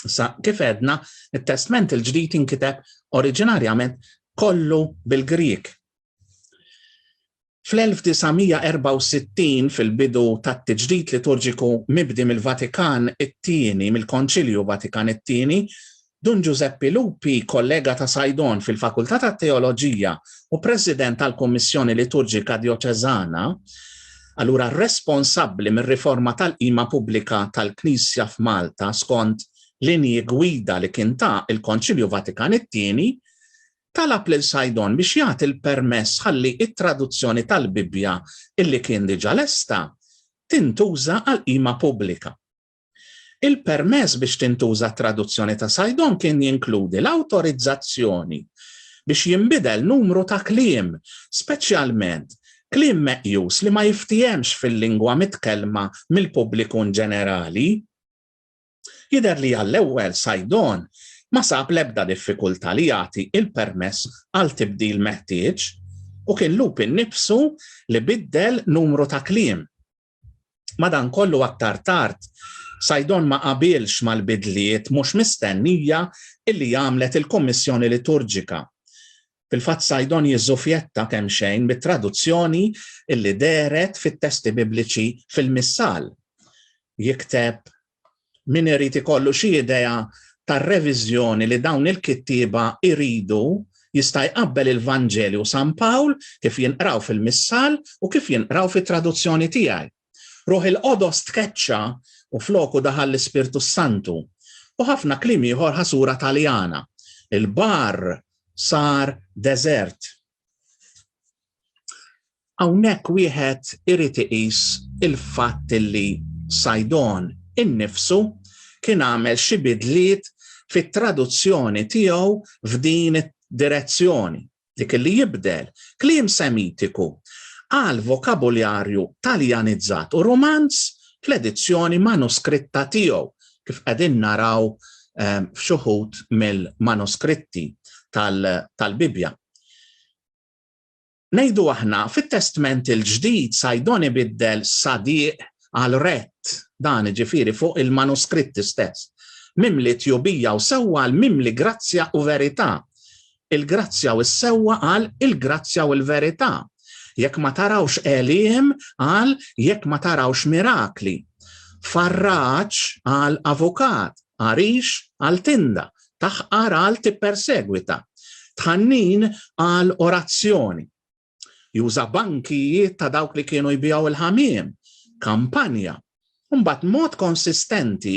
S1: Sa kif edna, it-Testment il-ġdid inkiteb oriġinarjament kollu bil-Grieg. Fl-1964 fil-bidu tat-tiġdid liturġiku mibdi mill-Vatikan it-Tieni, mill-Konċilju Vatikan it-Tieni, Dun Giuseppe Lupi, kollega ta' Sajdon fil-Fakultà tat-Teoloġija u President tal-Kummissjoni Liturġika Djoċeżana, Allura responsabbli mir-riforma tal-qima pubblika tal-Knisja f'Malta skont linji gwida li kien ta il-Konċilju Vatikan it-Tieni, talab lil Saidon biex jagħti l-permess ħalli it-traduzzjoni tal-Bibbja illi kien diġà lesta tintuża għall-qima pubblika. Il-permess biex tintuża t-traduzzjoni ta' Saidon kien jinkludi l-awtorizzazzjoni biex jinbidel numru ta' kliem, speċjalment kliem meqjus li ma jiftiehemx fil-lingwa mitkellma mill-pubbliku inġenerali. Jidher li għall-ewwel Saidon ma sab l-ebda diffikultà li jagħti il-permess għal tibdil meħtieġ u kien Lupin nifsu li biddel numru ta' kliem. Madankollu aktar tard, Saidon ma qabilx mal-bidliet mhux mistennija illi għamlet il-Kummissjoni Liturġika. Fil-fatt Saidon jiżżufjetta kemm xejn mit-traduzzjoni illi dehret fit-testi Bibliċi fil-Missal. Jikteb min irid ikollu xi idea tar-reviżjoni li dawn il-kittieba jridu jista' jqabbel il-Vanġelju u San Pawl kif jinqraw fil-Missal u kif jinqraw fit-traduzzjoni tiegħi. Ruħ il-Qodos tkeċċa u floku daħal l-Ispirtu s-Santu. U ħafna kliem ieħor ħasura Taljana. Il-baħar sar deżert. Hawnhekk wieħed irid iqis il-fatt li Saidon innifsu kien għamel xi bidliet fit-traduzzjoni tiegħu f'din id-direzzjoni, dik li jibdel kliem Semitiku għal vokabuljarju Taljanizzat u Rumanz fl-edizzjoni manuskritta tiegħu, kif qegħdin naraw f'xuħud mill-manuskritti tal-Bibbja. Ngħidu aħna, fit-Testment il-Ġdid Sajdon ibiddel sadiq għal rett, dan ġifiri fuq il-manuskritti stess, mimli tjubija u sewwa l-mimli grazzja u verità. Il-grazzja u s-sewwa qal il-grazzja u l-verità. Jekk ma tarawx għeliem qal jekk ma tarawx mirakli. Farraġ qal avukat, għarix qal tinda, taħqar qal tippersegwita. Tħannin qal orazzjoni. Juża bankijiet ta' dawk li kienu jbijaw il-ħamiem, kampanja. Mbagħad mod konsistenti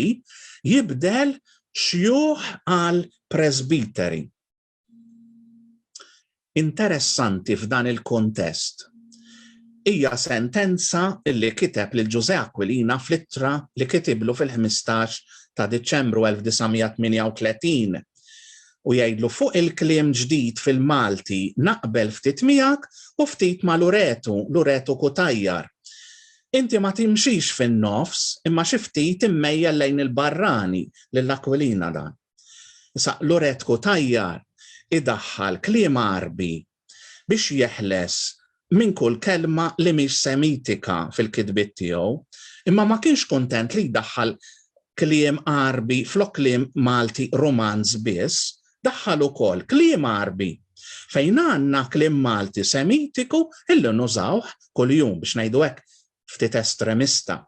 S1: jibdel xjuħ għal presbiteri. Interessanti f'dan il-kontest hija sentenza li kiteb lil Ġużè Aquilina fl-ittra li kitiblu fil-15 ta' Diċembru 1938 u jgħidlu fuq il-kliem ġdid fil-Malti naqbel ftit miegħek u ftit ma' Luretu, Luretu Cutajar. Inti ma timxix fin-nofs imma xi ftit immejjel lejn il-barrani, lil Aquilina dan. Issa Luret Cutajar idaħħal kliem Għarbi biex jeħles minn kull kelma li mhix Semitika fil-kitbiet tiegħu, imma ma kienx kuntent li jdaħħal kliem Għarbi flok kliem Malti Rumanz biss, daħħal ukoll kliem Għarbi. Fejn għandna kliem Malti Semitiku illi nużawh kuljum, biex ngħidu hekk ftit estremista.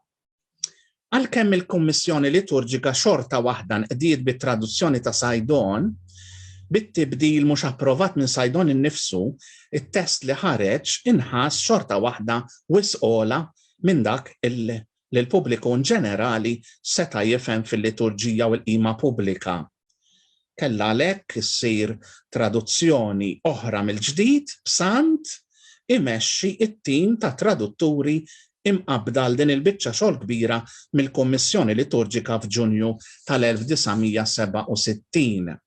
S1: Għalkemm il-Kummissjoni Liturġika xorta waħda nqdiet bit-traduzzjoni ta' Sajdon, bit-tibdil mhux approvat minn Sajdon innifsu, it-test li ħareġ inħass xorta waħda wisq ogħla minn dak li l-pubbliku inġenerali seta' jifhem fil-liturġija u l-qima pubblika. Kellha għalhekk issir traduzzjoni oħra mill-ġdid b'Sant imexxi t-tim ta' tradutturi imqabbda għal din il-biċċa xogħol kbira mill-Kummissjoni Liturġika f'Ġunju tal-1967.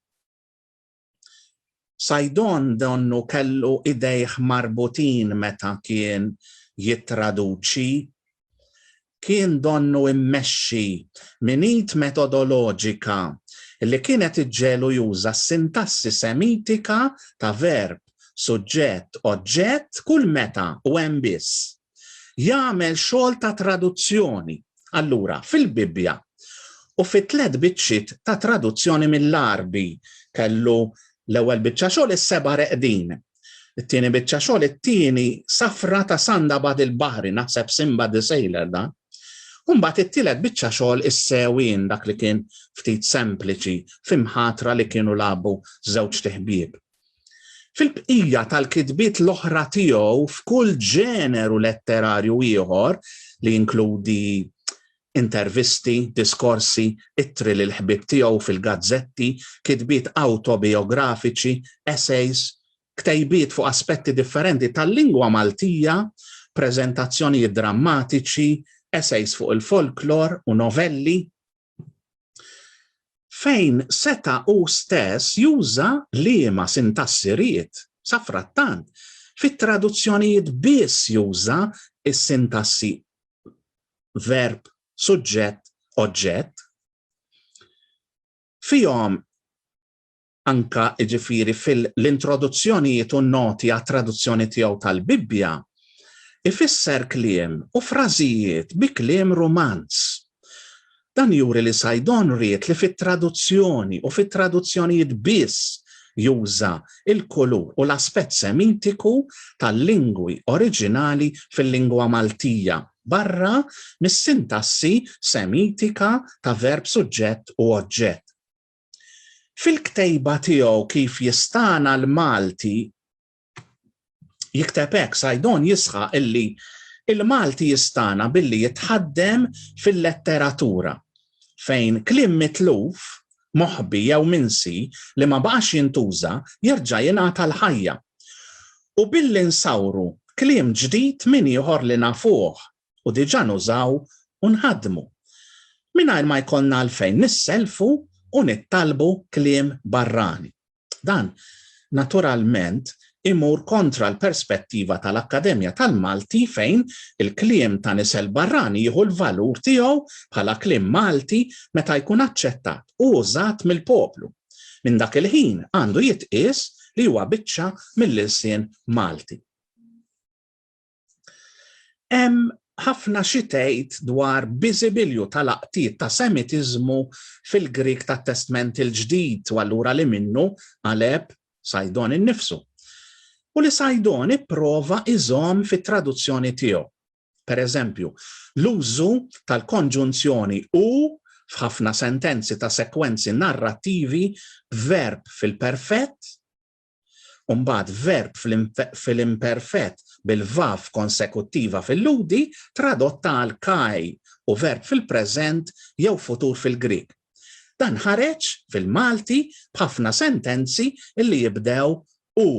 S1: Saidon donnu kellu idejh marbutin meta kien jittraduċi. Kien donnu mmexxi minn id metodoloġika li kienet iġġegħlu juża s-sintassi Semitika ta' verb, suġġett, oġġett kull meta u hemm biss. jagħmel xogħol ta' traduzzjoni. Allura, fil-Bibbja u fit tliet biċċiet ta' traduzzjoni mill-Arbi kellu l-ewwel biċċa xogħol is-seba' reqdin. It-tieni biċċa xogħol it-tieni safra ta' sanda bad il-baħri naħseb simba the sailor dan. Umbat it-tielet biċċa xogħol is-sewin dak li kien ftit sempliċi fimħatra li kienu labu żewġ teħbieb. Fil-bqija tal-kitbiet l-oħra tiegħu f'kull ġeneru letterarju ieħor, li jinkludi intervisti, diskorsi, ittri lill-ħbieb tiegħu fil-gazzetti, kitbiet awtobijografiċi, essays, ktejbiet fuq aspetti differenti tal-lingwa Maltija, preżentazzjonijiet drammatiċi, essays fuq il-folklor u novelli, fejn seta' hu stess juża liema sintassi ried, safrattant, fit-traduzzjonijiet biss juża s-sintassi verb, suġġett, oġġett, fihom anke jiġifieri fil-introduzzjonijiet u n-noti għat-traduzzjoni tiegħu tal-Bibbja, ifisser kliem u frażijiet bi kliem Rumanz. Dan juri li Saidon ried li fit-traduzzjoni u fit-traduzzjonijiet biss juża l-kulur u l-aspett Semitiku tal-lingwi oriġinali fil-lingwa Maltija, barra mis-sintassi Semitika ta' verb-suġġett u oġġett. Fil-ktejba tiegħu kif jistagħna l-Malti jikteb hekk Sajdon jisħa illi il-Malti jistana billi jitħaddem fil-letteratura fejn klim mitluf, moħbi jew minsi li ma baqax jintuża jerġa' jingħata l-ħajja. U billi nsawru klim ġdid min ieħor li nafuh u diġà nużaw u nħaddmu, mingħajr ma jkollna għalfejn nisselfu u nittalbu kliem barrani. Dan, naturalment, imur kontra l-perspettiva tal-Akkademja tal-Malti fejn il-kliem ta' nisel barrani jieħu l-valur tiegħu bħala kliem Malti meta jkun aċċettat u użat mill-poplu. Minn dak il-ħin għandu jitqies li huwa biċċa mill-ilsien Malti. Hemm ħafna xi tgħid dwar biżibilju tal-laqtiet ta' Semitiżmu fil-Grieg tat-Testment il-Ġdid u allura li minnu għaleb Sajdon innifsu. U li Sajdon ipprova iżomm fit-traduzzjoni tiegħu. Per eżempju, l-użu tal-konġunzjoni u f'ħafna sentenzi ta' sekwenzi narrattivi b'verb fil-perfett U mbagħad verb fil-imperfett bil-vav konsekuttiva fil-ludi tradotta għal kai u verb fil-preżent jew futur fil-Grieg. Dan ħareġ fil-Malti b'ħafna sentenzi li jibdew u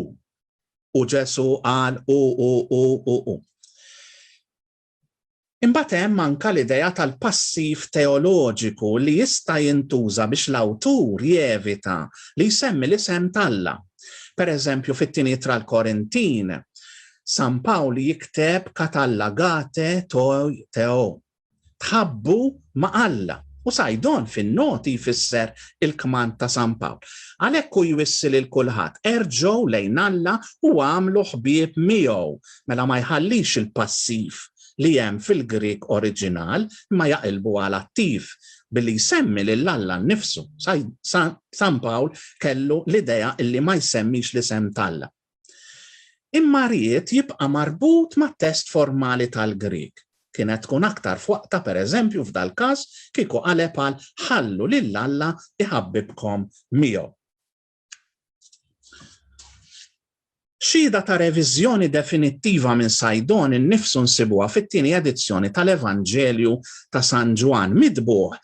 S1: u Ġesu qal u u u u u. Imbagħad hemm anke l-idea tal-passiv teoloġiku li jista' jintuża biex l-awtur jevita li jsemmi l-isem t'Alla. Per eżempju, fit-Tieni Ittra l-Korintin, San Pawl jikteb katalla gate toi theo, tħabbu ma' Alla, u Sajdon fin-Noti jfisser il-kmand ta' San Pawl. Għalhekk hu jwissi lil kulħadd, erġgħu lejn Alla u agħmlu ħbieb miegħu Mela ma jħallix il-passiv li hemm fil-Grieg oriġinal imma jaqilbu għal attiv billi jsemmi lil Alla nnifsu. San Pawl kellu l-idea li ma jsemmix l-isem t'Alla. Imma ried jibqa' marbut mat-test formali tal-Grieg. Kienet tkun aktar f'waqtha pereżempju f'dal-każ kieku qaleb għal ħallu lil Alla jħabbibkom miegħu. Xhieda ta' reviżjoni definittiva minn Sajdon innifsu nsibuha fit-tieni edizzjoni tal-Evanġelju ta' San Ġwann mitbugħ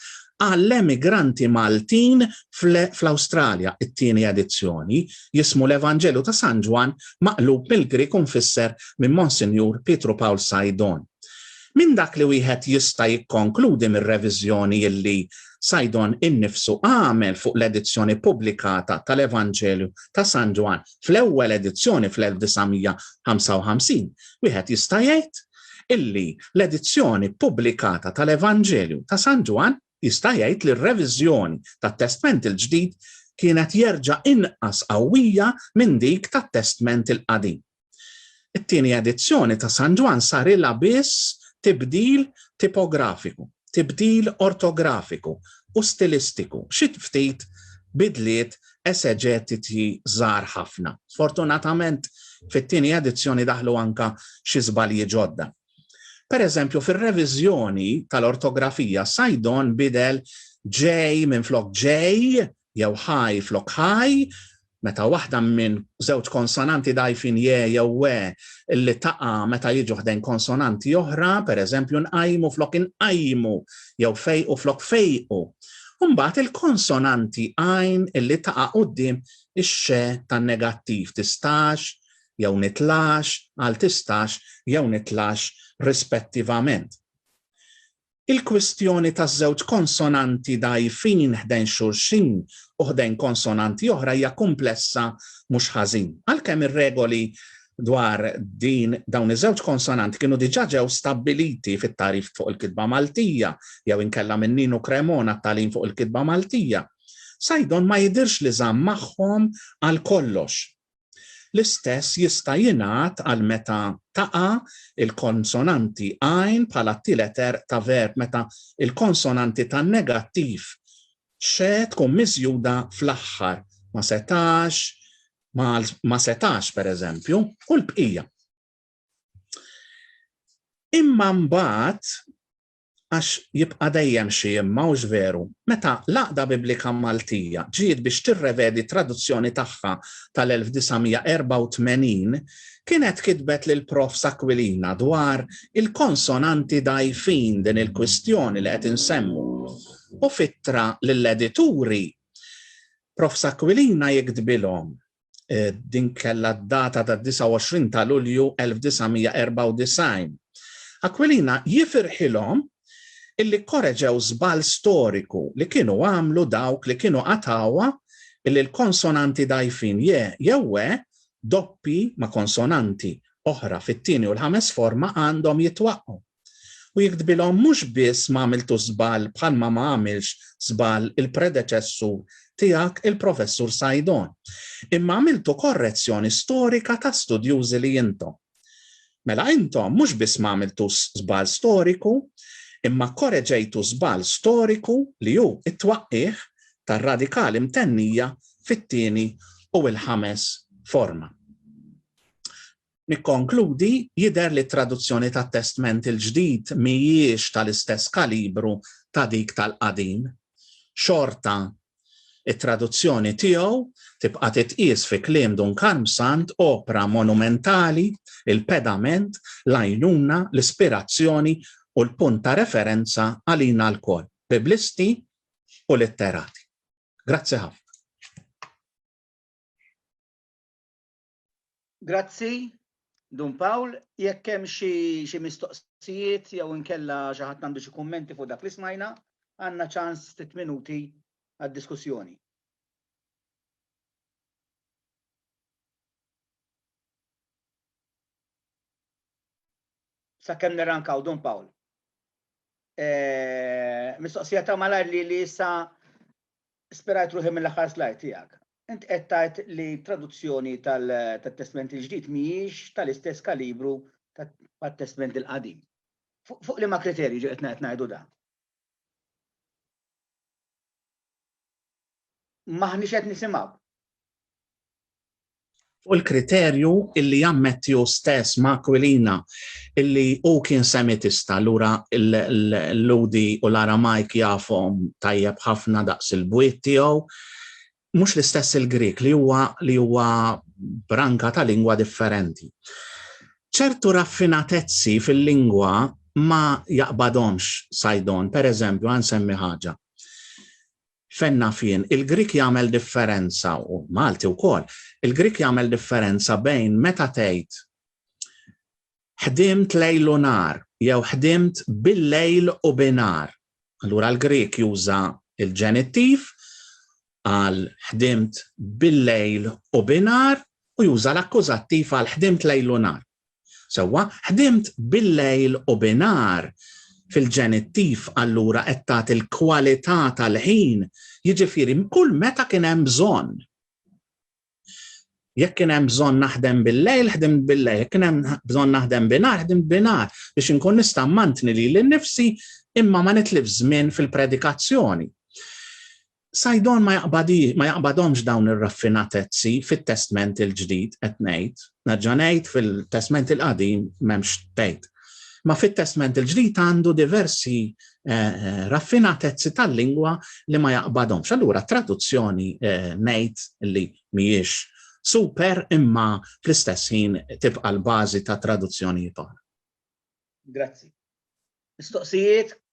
S1: għall-emigranti Maltin fl-Awstralja, it-tieni edizzjoni, jismu l-Evanġelju ta' San Ġwann maqlub mill-Grieg u mfisser minn Monsinjur Pietru Pawl Sajdon. Minn dak li wieħed jista' jikkonkludi mir-reviżjoni illi Saidon innifsu għamel fuq l-edizzjoni ppubblikata tal-Evanġelju ta' San Ġwann fl-ewwel edizzjoni fl-1955, wieħed jista' jgħid illi l-edizzjoni ppubblikata tal-Evanġelju ta' San Ġwann jista' jgħid li r-reviżjoni tat-Testment il-Ġdid kienet jerġa' inqas qawwija minn dik tat-Testment il-Qadim. It-tieni edizzjoni ta' San Ġwann sarilha biss tibdil tipografiku, tibdil ortografiku u stilistiku, xi ftit bidliet eseġetiċi żgħar ħafna. Sfortunatament, fit-tieni edizzjoni daħlu anke xi żbalji ġodda. Per eżempju, fir-reviżjoni tal-ortografija Saidon bidel J minflok Jay jew high flok high, meta waħda minn żewġ konsonanti dgħajfin je jew we li taqa' meta jiġu ħdejn konsonanti oħra, pereżempju nqajmu flok inqajjmu jew fejqu flok fejqu. U mbagħad il-konsonanti għajn li taqa' quddiem ix-xe tan-negattiv, tistax jew nitlax għal tistax jew nitlax rispettivament. Il-kwistjoni taż-żewġ konsonanti dgħajfin ħdejn xulxin u ħdejn konsonanti oħra hija kumplessa mhux ħażin. Għalkemm ir-regoli dwar din dawn iż-żewġ konsonanti kienu diġà ġew stabbiliti fit-Tagħrif fuq il-Kitba Maltija jew inkella minn Ninu Cremona t-Tagħlim fuq il-Kitba Maltija, Saidon ma jidhirx li żamm magħhom għal kollox. L-istess jista' jingħad għal meta taqa' l-konsonanti għajn bħala t-tielet erq ta' verb meta l-konsonanti tan-negattiv xe tkun miżjuda fl-aħħar, ma setax, ma setax, pereżempju, u l-bqija. Imma mbagħad għax jibqa' dejjem xi imma hux veru, meta l-Għaqda Biblika Maltija ġiet biex tirrevedi t-traduzzjoni tagħha tal-1984 kienet kitbet lill-Profs Aquilina dwar il-konsonanti dgħajfin din il-kwistjoni li qed insemmu u f'ittra lill-edituri Profs Aquilina jiktbilhom eh, din kellha data ta' 29 ta' Lulju 1994. Aquilina jifirħilhom illi korreġew żball storiku li kienu għamlu dawk li kienu qatawa illi l-konsonanti dajfin je jew e doppi ma' konsonanti oħra fit-tieni u l-ħames forma għandhom jitwaqqgħu. U jekk tbilhom mhux biss ma għamiltux żball bħalma ma għamilx żball il-predeċessur tiegħek il-Professur Saidon, imma għamiltu korrezzjoni storika ta' studjużi li intom. Mela intom mhux biss ma għamiltux żball storiku, imma kkoreġejtu żball storiku li hu t-twaqqigħ tar-radikali mtennija fit-tieni u l-ħames forma. Nikkonkludi, jidher li t-traduzzjoni tat-Testment il-Ġdid mhijiex tal-istess kalibru ta' dik tal-Qadim. Xorta, it-traduzzjoni tiegħu tibqa' titqies fi kliem Dun Karmsand opra monumentali, il-pedament, l-għajnuna, l-ispirazzjoni u l-punt ta' referenza għalina lkoll, Biblisti u litterati. Grazzi ħafna. Grazzi, Dun Pawl. Jekk hemm xi mistoqsijiet jew inkella xi ħadd għandu xi kummenti fuq dak li smajna, għandna ċans ftit minuti għad-diskussjoni. Sakemm nirrankaw, Dun Pawl. Mistoqsija ta' malajr li issa spirajt ruħi mill-aħħar slide tiegħek. Int qed tgħid li t-traduzzjoni tat-Testment il-Ġdid mhijiex tal-istess kalibru tat-Testment il-Qadim. Fuq liema kriterju ġiet qed ngħidu dan? M'aħniex qed nisimgħu. fuq il-kriterju illi jammetti hu stess ma' Aquilina illi hu kien Semitista lura l-Lhudi u l-Aramajk jafhom tajjeb ħafna daqs il-bwiet tiegħu, mhux l-istess il-Grieg li huwa li huwa branka ta' lingwa differenti. Ċertu raffinatezzi fil-lingwa ma jaqbadhomx Saidon, pereżempju ħa nsemmi ħaġa. Fejn naf jien, il-Grieg jagħmel differenza, u l-Malti wkoll, il-Grieg jagħmel differenza bejn meta tgħid ħdimt lejl u nhar jew ħdimt bil-lejl u bi nhar. Allura l-Grieg juża l-ġenittiv għal ħdimt bil-lejl u bi nhar u juża l-akkużattiv għal ħdimt lejl u nhar. Sewwa, ħdimt bil-lejl u binhar, fil-ġenittiv allura qed tagħti l-kwalità tal-ħin, jiġifieri kull meta kien hemm bżonn. Jekk kien hemm bżonn naħdem bil-lejl, ħdimt bil-lejl, jekk kien hemm bżonn naħdem binhar, ħdimt binhar biex inkun nista' mmantni lili nnifsi imma ma nitlifx żmien fil-predikazzjoni. Sajdon ma jaqbadhomx dawn ir-raffinatezzi fit-Testment il-Ġdid qed ngħid, nerġa' ngħid fil-Testment il-Qadim m'hemmx tgħid. Ma fit-Testment il-Ġdid għandu diversi eh, eh, raffinatezzi tal-lingwa li ma jaqbadhomx. Allura traduzzjoni eh, ngħid li mhijiex super imma fl-istess ħin tibqa' l-bażi ta' traduzzjonijiet oħra. Grazzi. Mistoqsijiet,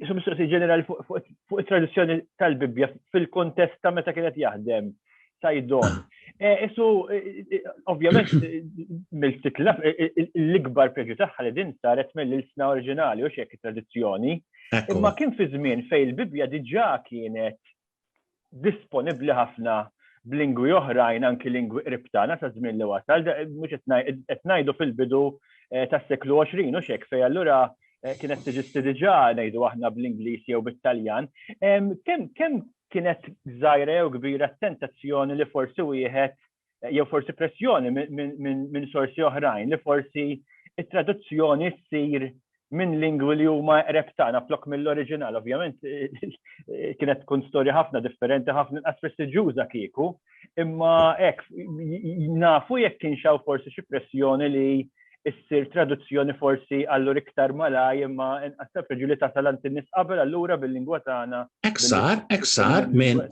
S1: Isu mistoqsi ġenerali fuq it-traduzzjoni tal-Bibbja fil-kontest ta' meta kienet jaħdem sajdon. Eh, isu, eh, eh, ovvjament, mill-titla, l-ikbar preġu tagħha li din saret mill-ilsna oriġinali u xek tradizzjoni. Imma kien fi żmien fej il-Bibbja diġà kienet disponibbli ħafna b'lingwi oħrajn anki lingwi qrib tagħna sa żmien li wasal, mhux qed ngħidu fil-bidu eh, tas-seklu 20 u xek fej allura eh, kienet tiġisti diġà ngħidu aħna bl-Ingliż jew bit-Taljan. Kemm kien kienet żgħira jew kbira t-tentazzjoni li forsi wieħed jew forsi pressjoni minn sorsi oħrajn li forsi it-traduzzjoni ssir minn lingwi li huma qreb tagħna flok mill-oriġinal. Ovvjament kienet tkun storja ħafna differenti, ħafna inqas prestiġjuża kieku, imma hekk nafu jekk kien xaw forsi xi pressjoni li ssir traduzzjoni forsi allur iktar malaj imma inqas ta' preġu li tasal għand in-nies qabel allura bil-lingwa tagħna. Eksar, eksar minn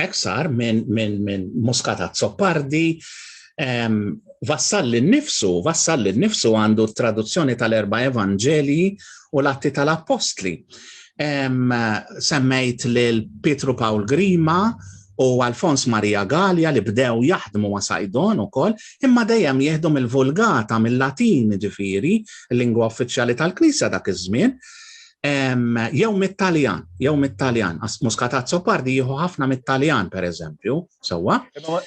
S1: Hekk sar minn min, min Muscat Azzopardi Vassalli nnifsu, Vassalli nnifsu għandu traduzzjoni tal-erba evanġelji u l-atti tal-appostli. Semmejt lil Pietru Paul Grima u Alfons Maria Gallia li bdew jaħdmu ma' Sajdon u koll, imma dejjem jieħdu mill-vulgata, mill-latin ġifiri, l-lingwa uffiċjali tal-Knisja dak iż-żmien, jew mit-Taljan, jew mit-Taljan, għas muskatat sopardi jieħu ħafna mit-Taljan, per eżempju, sewwa. Ma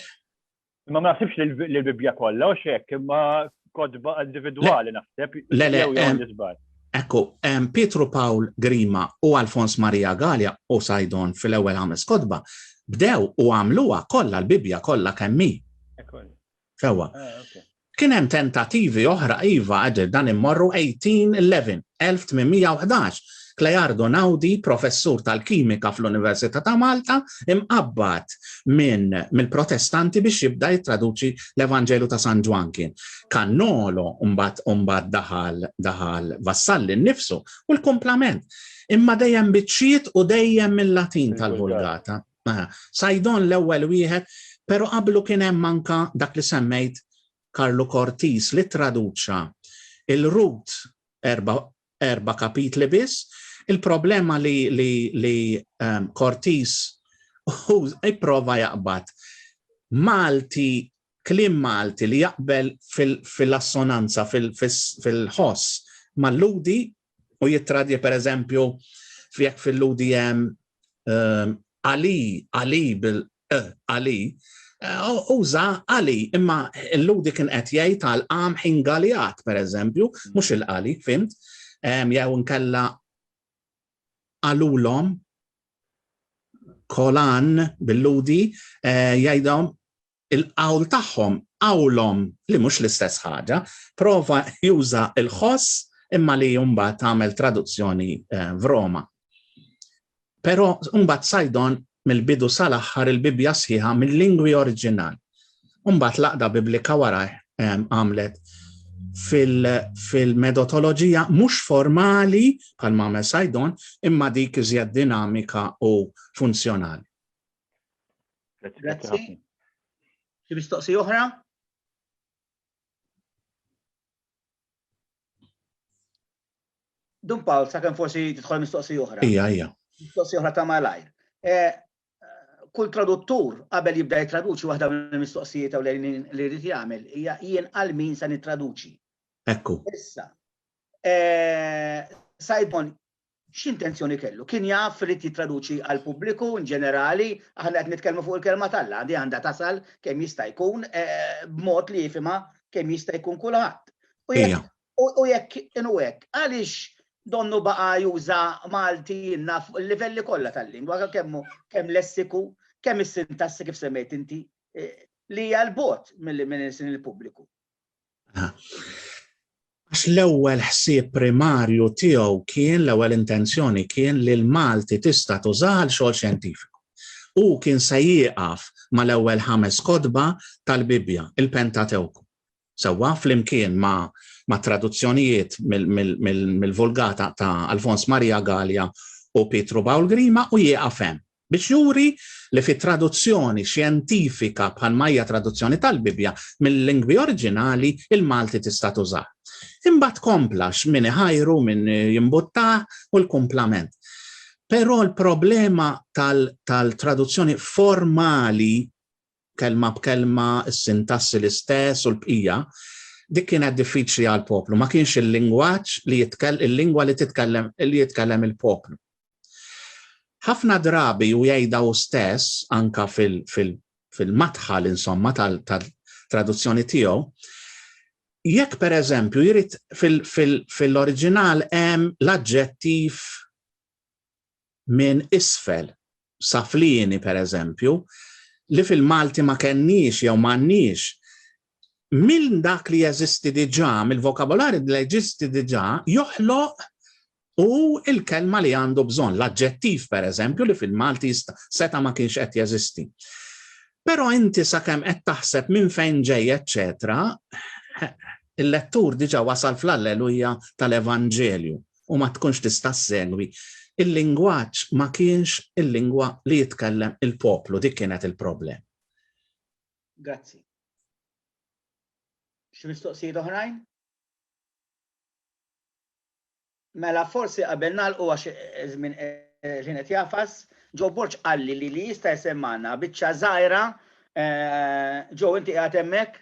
S1: ma nasibx li l-Bibbja kollha u xek, imma kodba individwali naħseb. Le, le, Ekku, Pietru Paul Grima u Alfons Maria Gallia u Sajdon fil-ewwel ħames kodba bdew u għamluha kollha l-Bibbja kollha kemmi. Sewwa. Kien hemm tentattivi oħra iva għad dan immorru 1811, 1811, Cleardo Naudi, professur tal-kimika fl-Università ta' Malta, imqabbad minn mill-Protestanti biex jibda jittraduċi l-Evanġelu ta' San Ġwan kien. Kannolo mbagħad mbagħad daħal daħal Vassalli nnifsu u l-kumplament. Imma dejjem biċċiet u dejjem mill-Latin tal-Vulgata. Mela, Saidon l-ewwel wieħed, però qablu kien hemm anka dak li semmejt Karlu Kortis li traduċa il-Rut erba' erba' kapitli biss, il-problema li li li um, Kortis u ipprova jaqbad Malti klim Malti li jaqbel fil-assonanza, fil-ħoss mal-ludi u jittradja per eżempju fjek fil-UDM ehm, Ali, Ali bil e, Ali, eh, uża Ali, imma l-ludi kien qed jgħid għal qam ħin galijat, per eżempju, mhux il-qali, fimt, ehm, jew nkella għalulhom kolan bil-ludi eh, jgħidhom il-qawl tagħhom qawlhom li mhux l-istess ħaġa, prova juża l-ħoss imma li mbagħad għamel traduzzjoni f'Roma. Però mbagħad Sajdon mill-bidu sal-aħħar il-Bibbja sħiħa mill-lingwi oriġinali. Mbagħad laqda Biblika warajh għamlet fil-medotoloġija fil mhux formali bħal ma' Sajdon imma dik iżjed dinamika u funzjonali. Grazzi. Xi mistoqsi oħra? Dun Paul, sa' kem forsi titħol mistoqsi oħra. Ija, ija. Mistoqsi oħra ta' malajr. Eh, kull traduttur qabel jibda jitraduċi waħda mill mistoqsijiet u li rrid jagħmel hija jien għal min se nittraduċi. Ekku. Issa. Eh, Sajdon, X'intenzjoni kellu? Kien jaf irid jittraduċi għall-pubbliku in ġenerali, aħna qed nitkellmu fuq il-Kelma t'Alla, din għandha tasal kemm jista' jkun b'mod li jifhimha kemm jista' jkun kulħadd. U jekk inhu hekk, għaliex donnu baqa' juża Malti jinnaf fuq il-livelli kollha tal-lingwa, kemm lessiku, kemm is-sintassi kif semmejt inti, li hija 'l bogħod minn il-pubbliku? Għax l-ewwel ħsieb primarju tiegħu kien l-ewwel intenzjoni kien li l-Malti tista' tużaha għal xogħol xjentifiku. Hu kien se jieqaf mal-ewwel ħames kotba tal-Bibbja, il-Pentatewku. Sewwa flimkien ma' ma' traduzzjonijiet mill-Vulgata ta' Alfons Maria Gallia u Pietru Bawl Grima u jieqaf hemm. biex juri li fi traduzzjoni xjentifika bħal ma hija traduzzjoni tal-Bibbja mil-lingwi oriġinali il-Malti tista' tużah. Imbagħad kompla x'min iħajru min jimbuttah u l-kumplament. Però l-problema tal-traduzzjoni formali kelma b'kelma, is-sintassi l-istess u l-bqija, dik kienet diffiċli għall-poplu, ma kienx il-lingwaġġ li jitkell il-lingwa li titkellem li jitkellem il-poplu. Ħafna drabi u jgħidha u stess anka fil-madħal fil, insomma tal-traduzzjoni tal tiegħu, jekk per eżempju jrid fil-oriġinal fil, hemm l-aġġettiv minn isfel sa flieni pereżempju, li fil-Malti ma kenniex jew m'għandniex, minn dak li jeżisti diġà, mill-vokabolarju li jeżisti diġà, joħloq hu l-kelma li għandu bżonn, l-aġġettiv pereżempju li fil-Malti seta' ma kienx qed jeżisti. Però inti sakemm qed taħseb minn fejn ġej eċċetera, il-lettur diġà wasal fl-Alleluja tal-Evanġelju. u ma tkunx tista' ssegwi, il-lingwaġġ ma kienx il-lingwa li jitkellem il-poplu, dik kienet il-problema. Grazzi. Xi mistoqsijiet oħrajn? Mela forsi qabel nagħlqu għax żmien ħin qed jafas, ġo Borġ qalli li li jista' jsemmana biċċa żgħira ġo inti qiegħed hemmhekk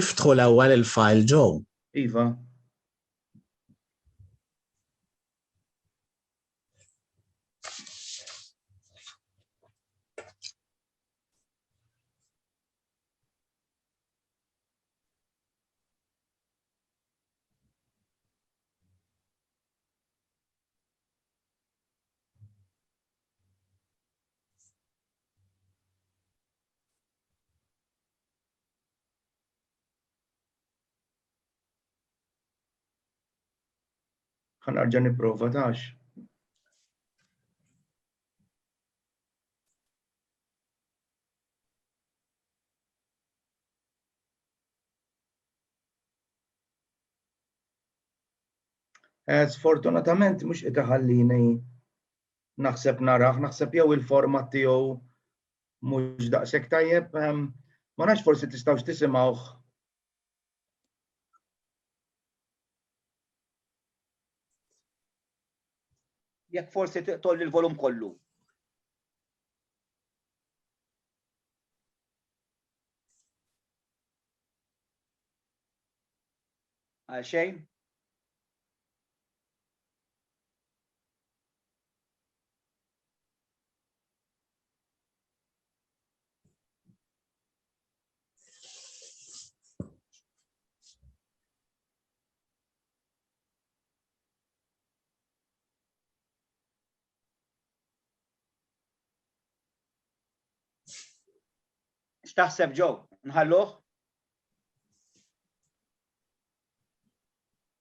S1: Iftħu l-ewwel il-fajl ġo. Iva. Ħan arġa niprofa tax. Eh, sfortunatament mhux qed iħallini naħseb naraħ, naħseb jew il-format tiegħu mhux daqshekk tajjeb. Ehm, ma nafx forsi tistgħux tisimgħuh jekk forsi tolli l-volum kollu. Għal xejn? X'taħseb ġew? Nħalluh?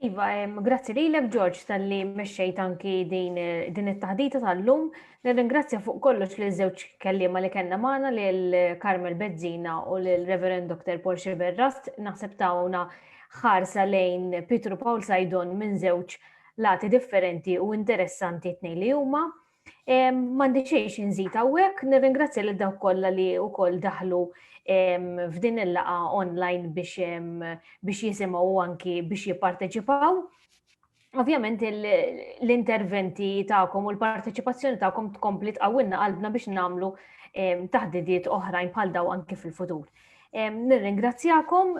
S1: Iva, grazzi lilek George tal-li mexxejt anki din din it-taħdita tal-lum. Nirringrazzja fuq kollox li żewġ kelliema li kellna magħna lil Carmel Bezzina u lil Reverend Dr. Paul Xiberrast naħseb tawna ħarsa lejn Pietru Paul Sajdon minn żewġ lati differenti u interessanti tnejn li huma. Mandi xejx nżid hawnhekk, nirringrazzja lil dawk kollha li wkoll daħlu f'din il-laqa online biex biex jisimgħu anki biex jipparteċipaw. Ovvjament l-interventi tagħkom u l-parteċipazzjoni tagħkom tkompli tqawwilna qalbna biex nagħmlu taħdidiet oħrajn bħal daw anki fil-futur. Nirringrazzjakom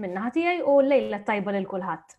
S1: minnaħa tiegħi u lejla tajba lil kulħadd.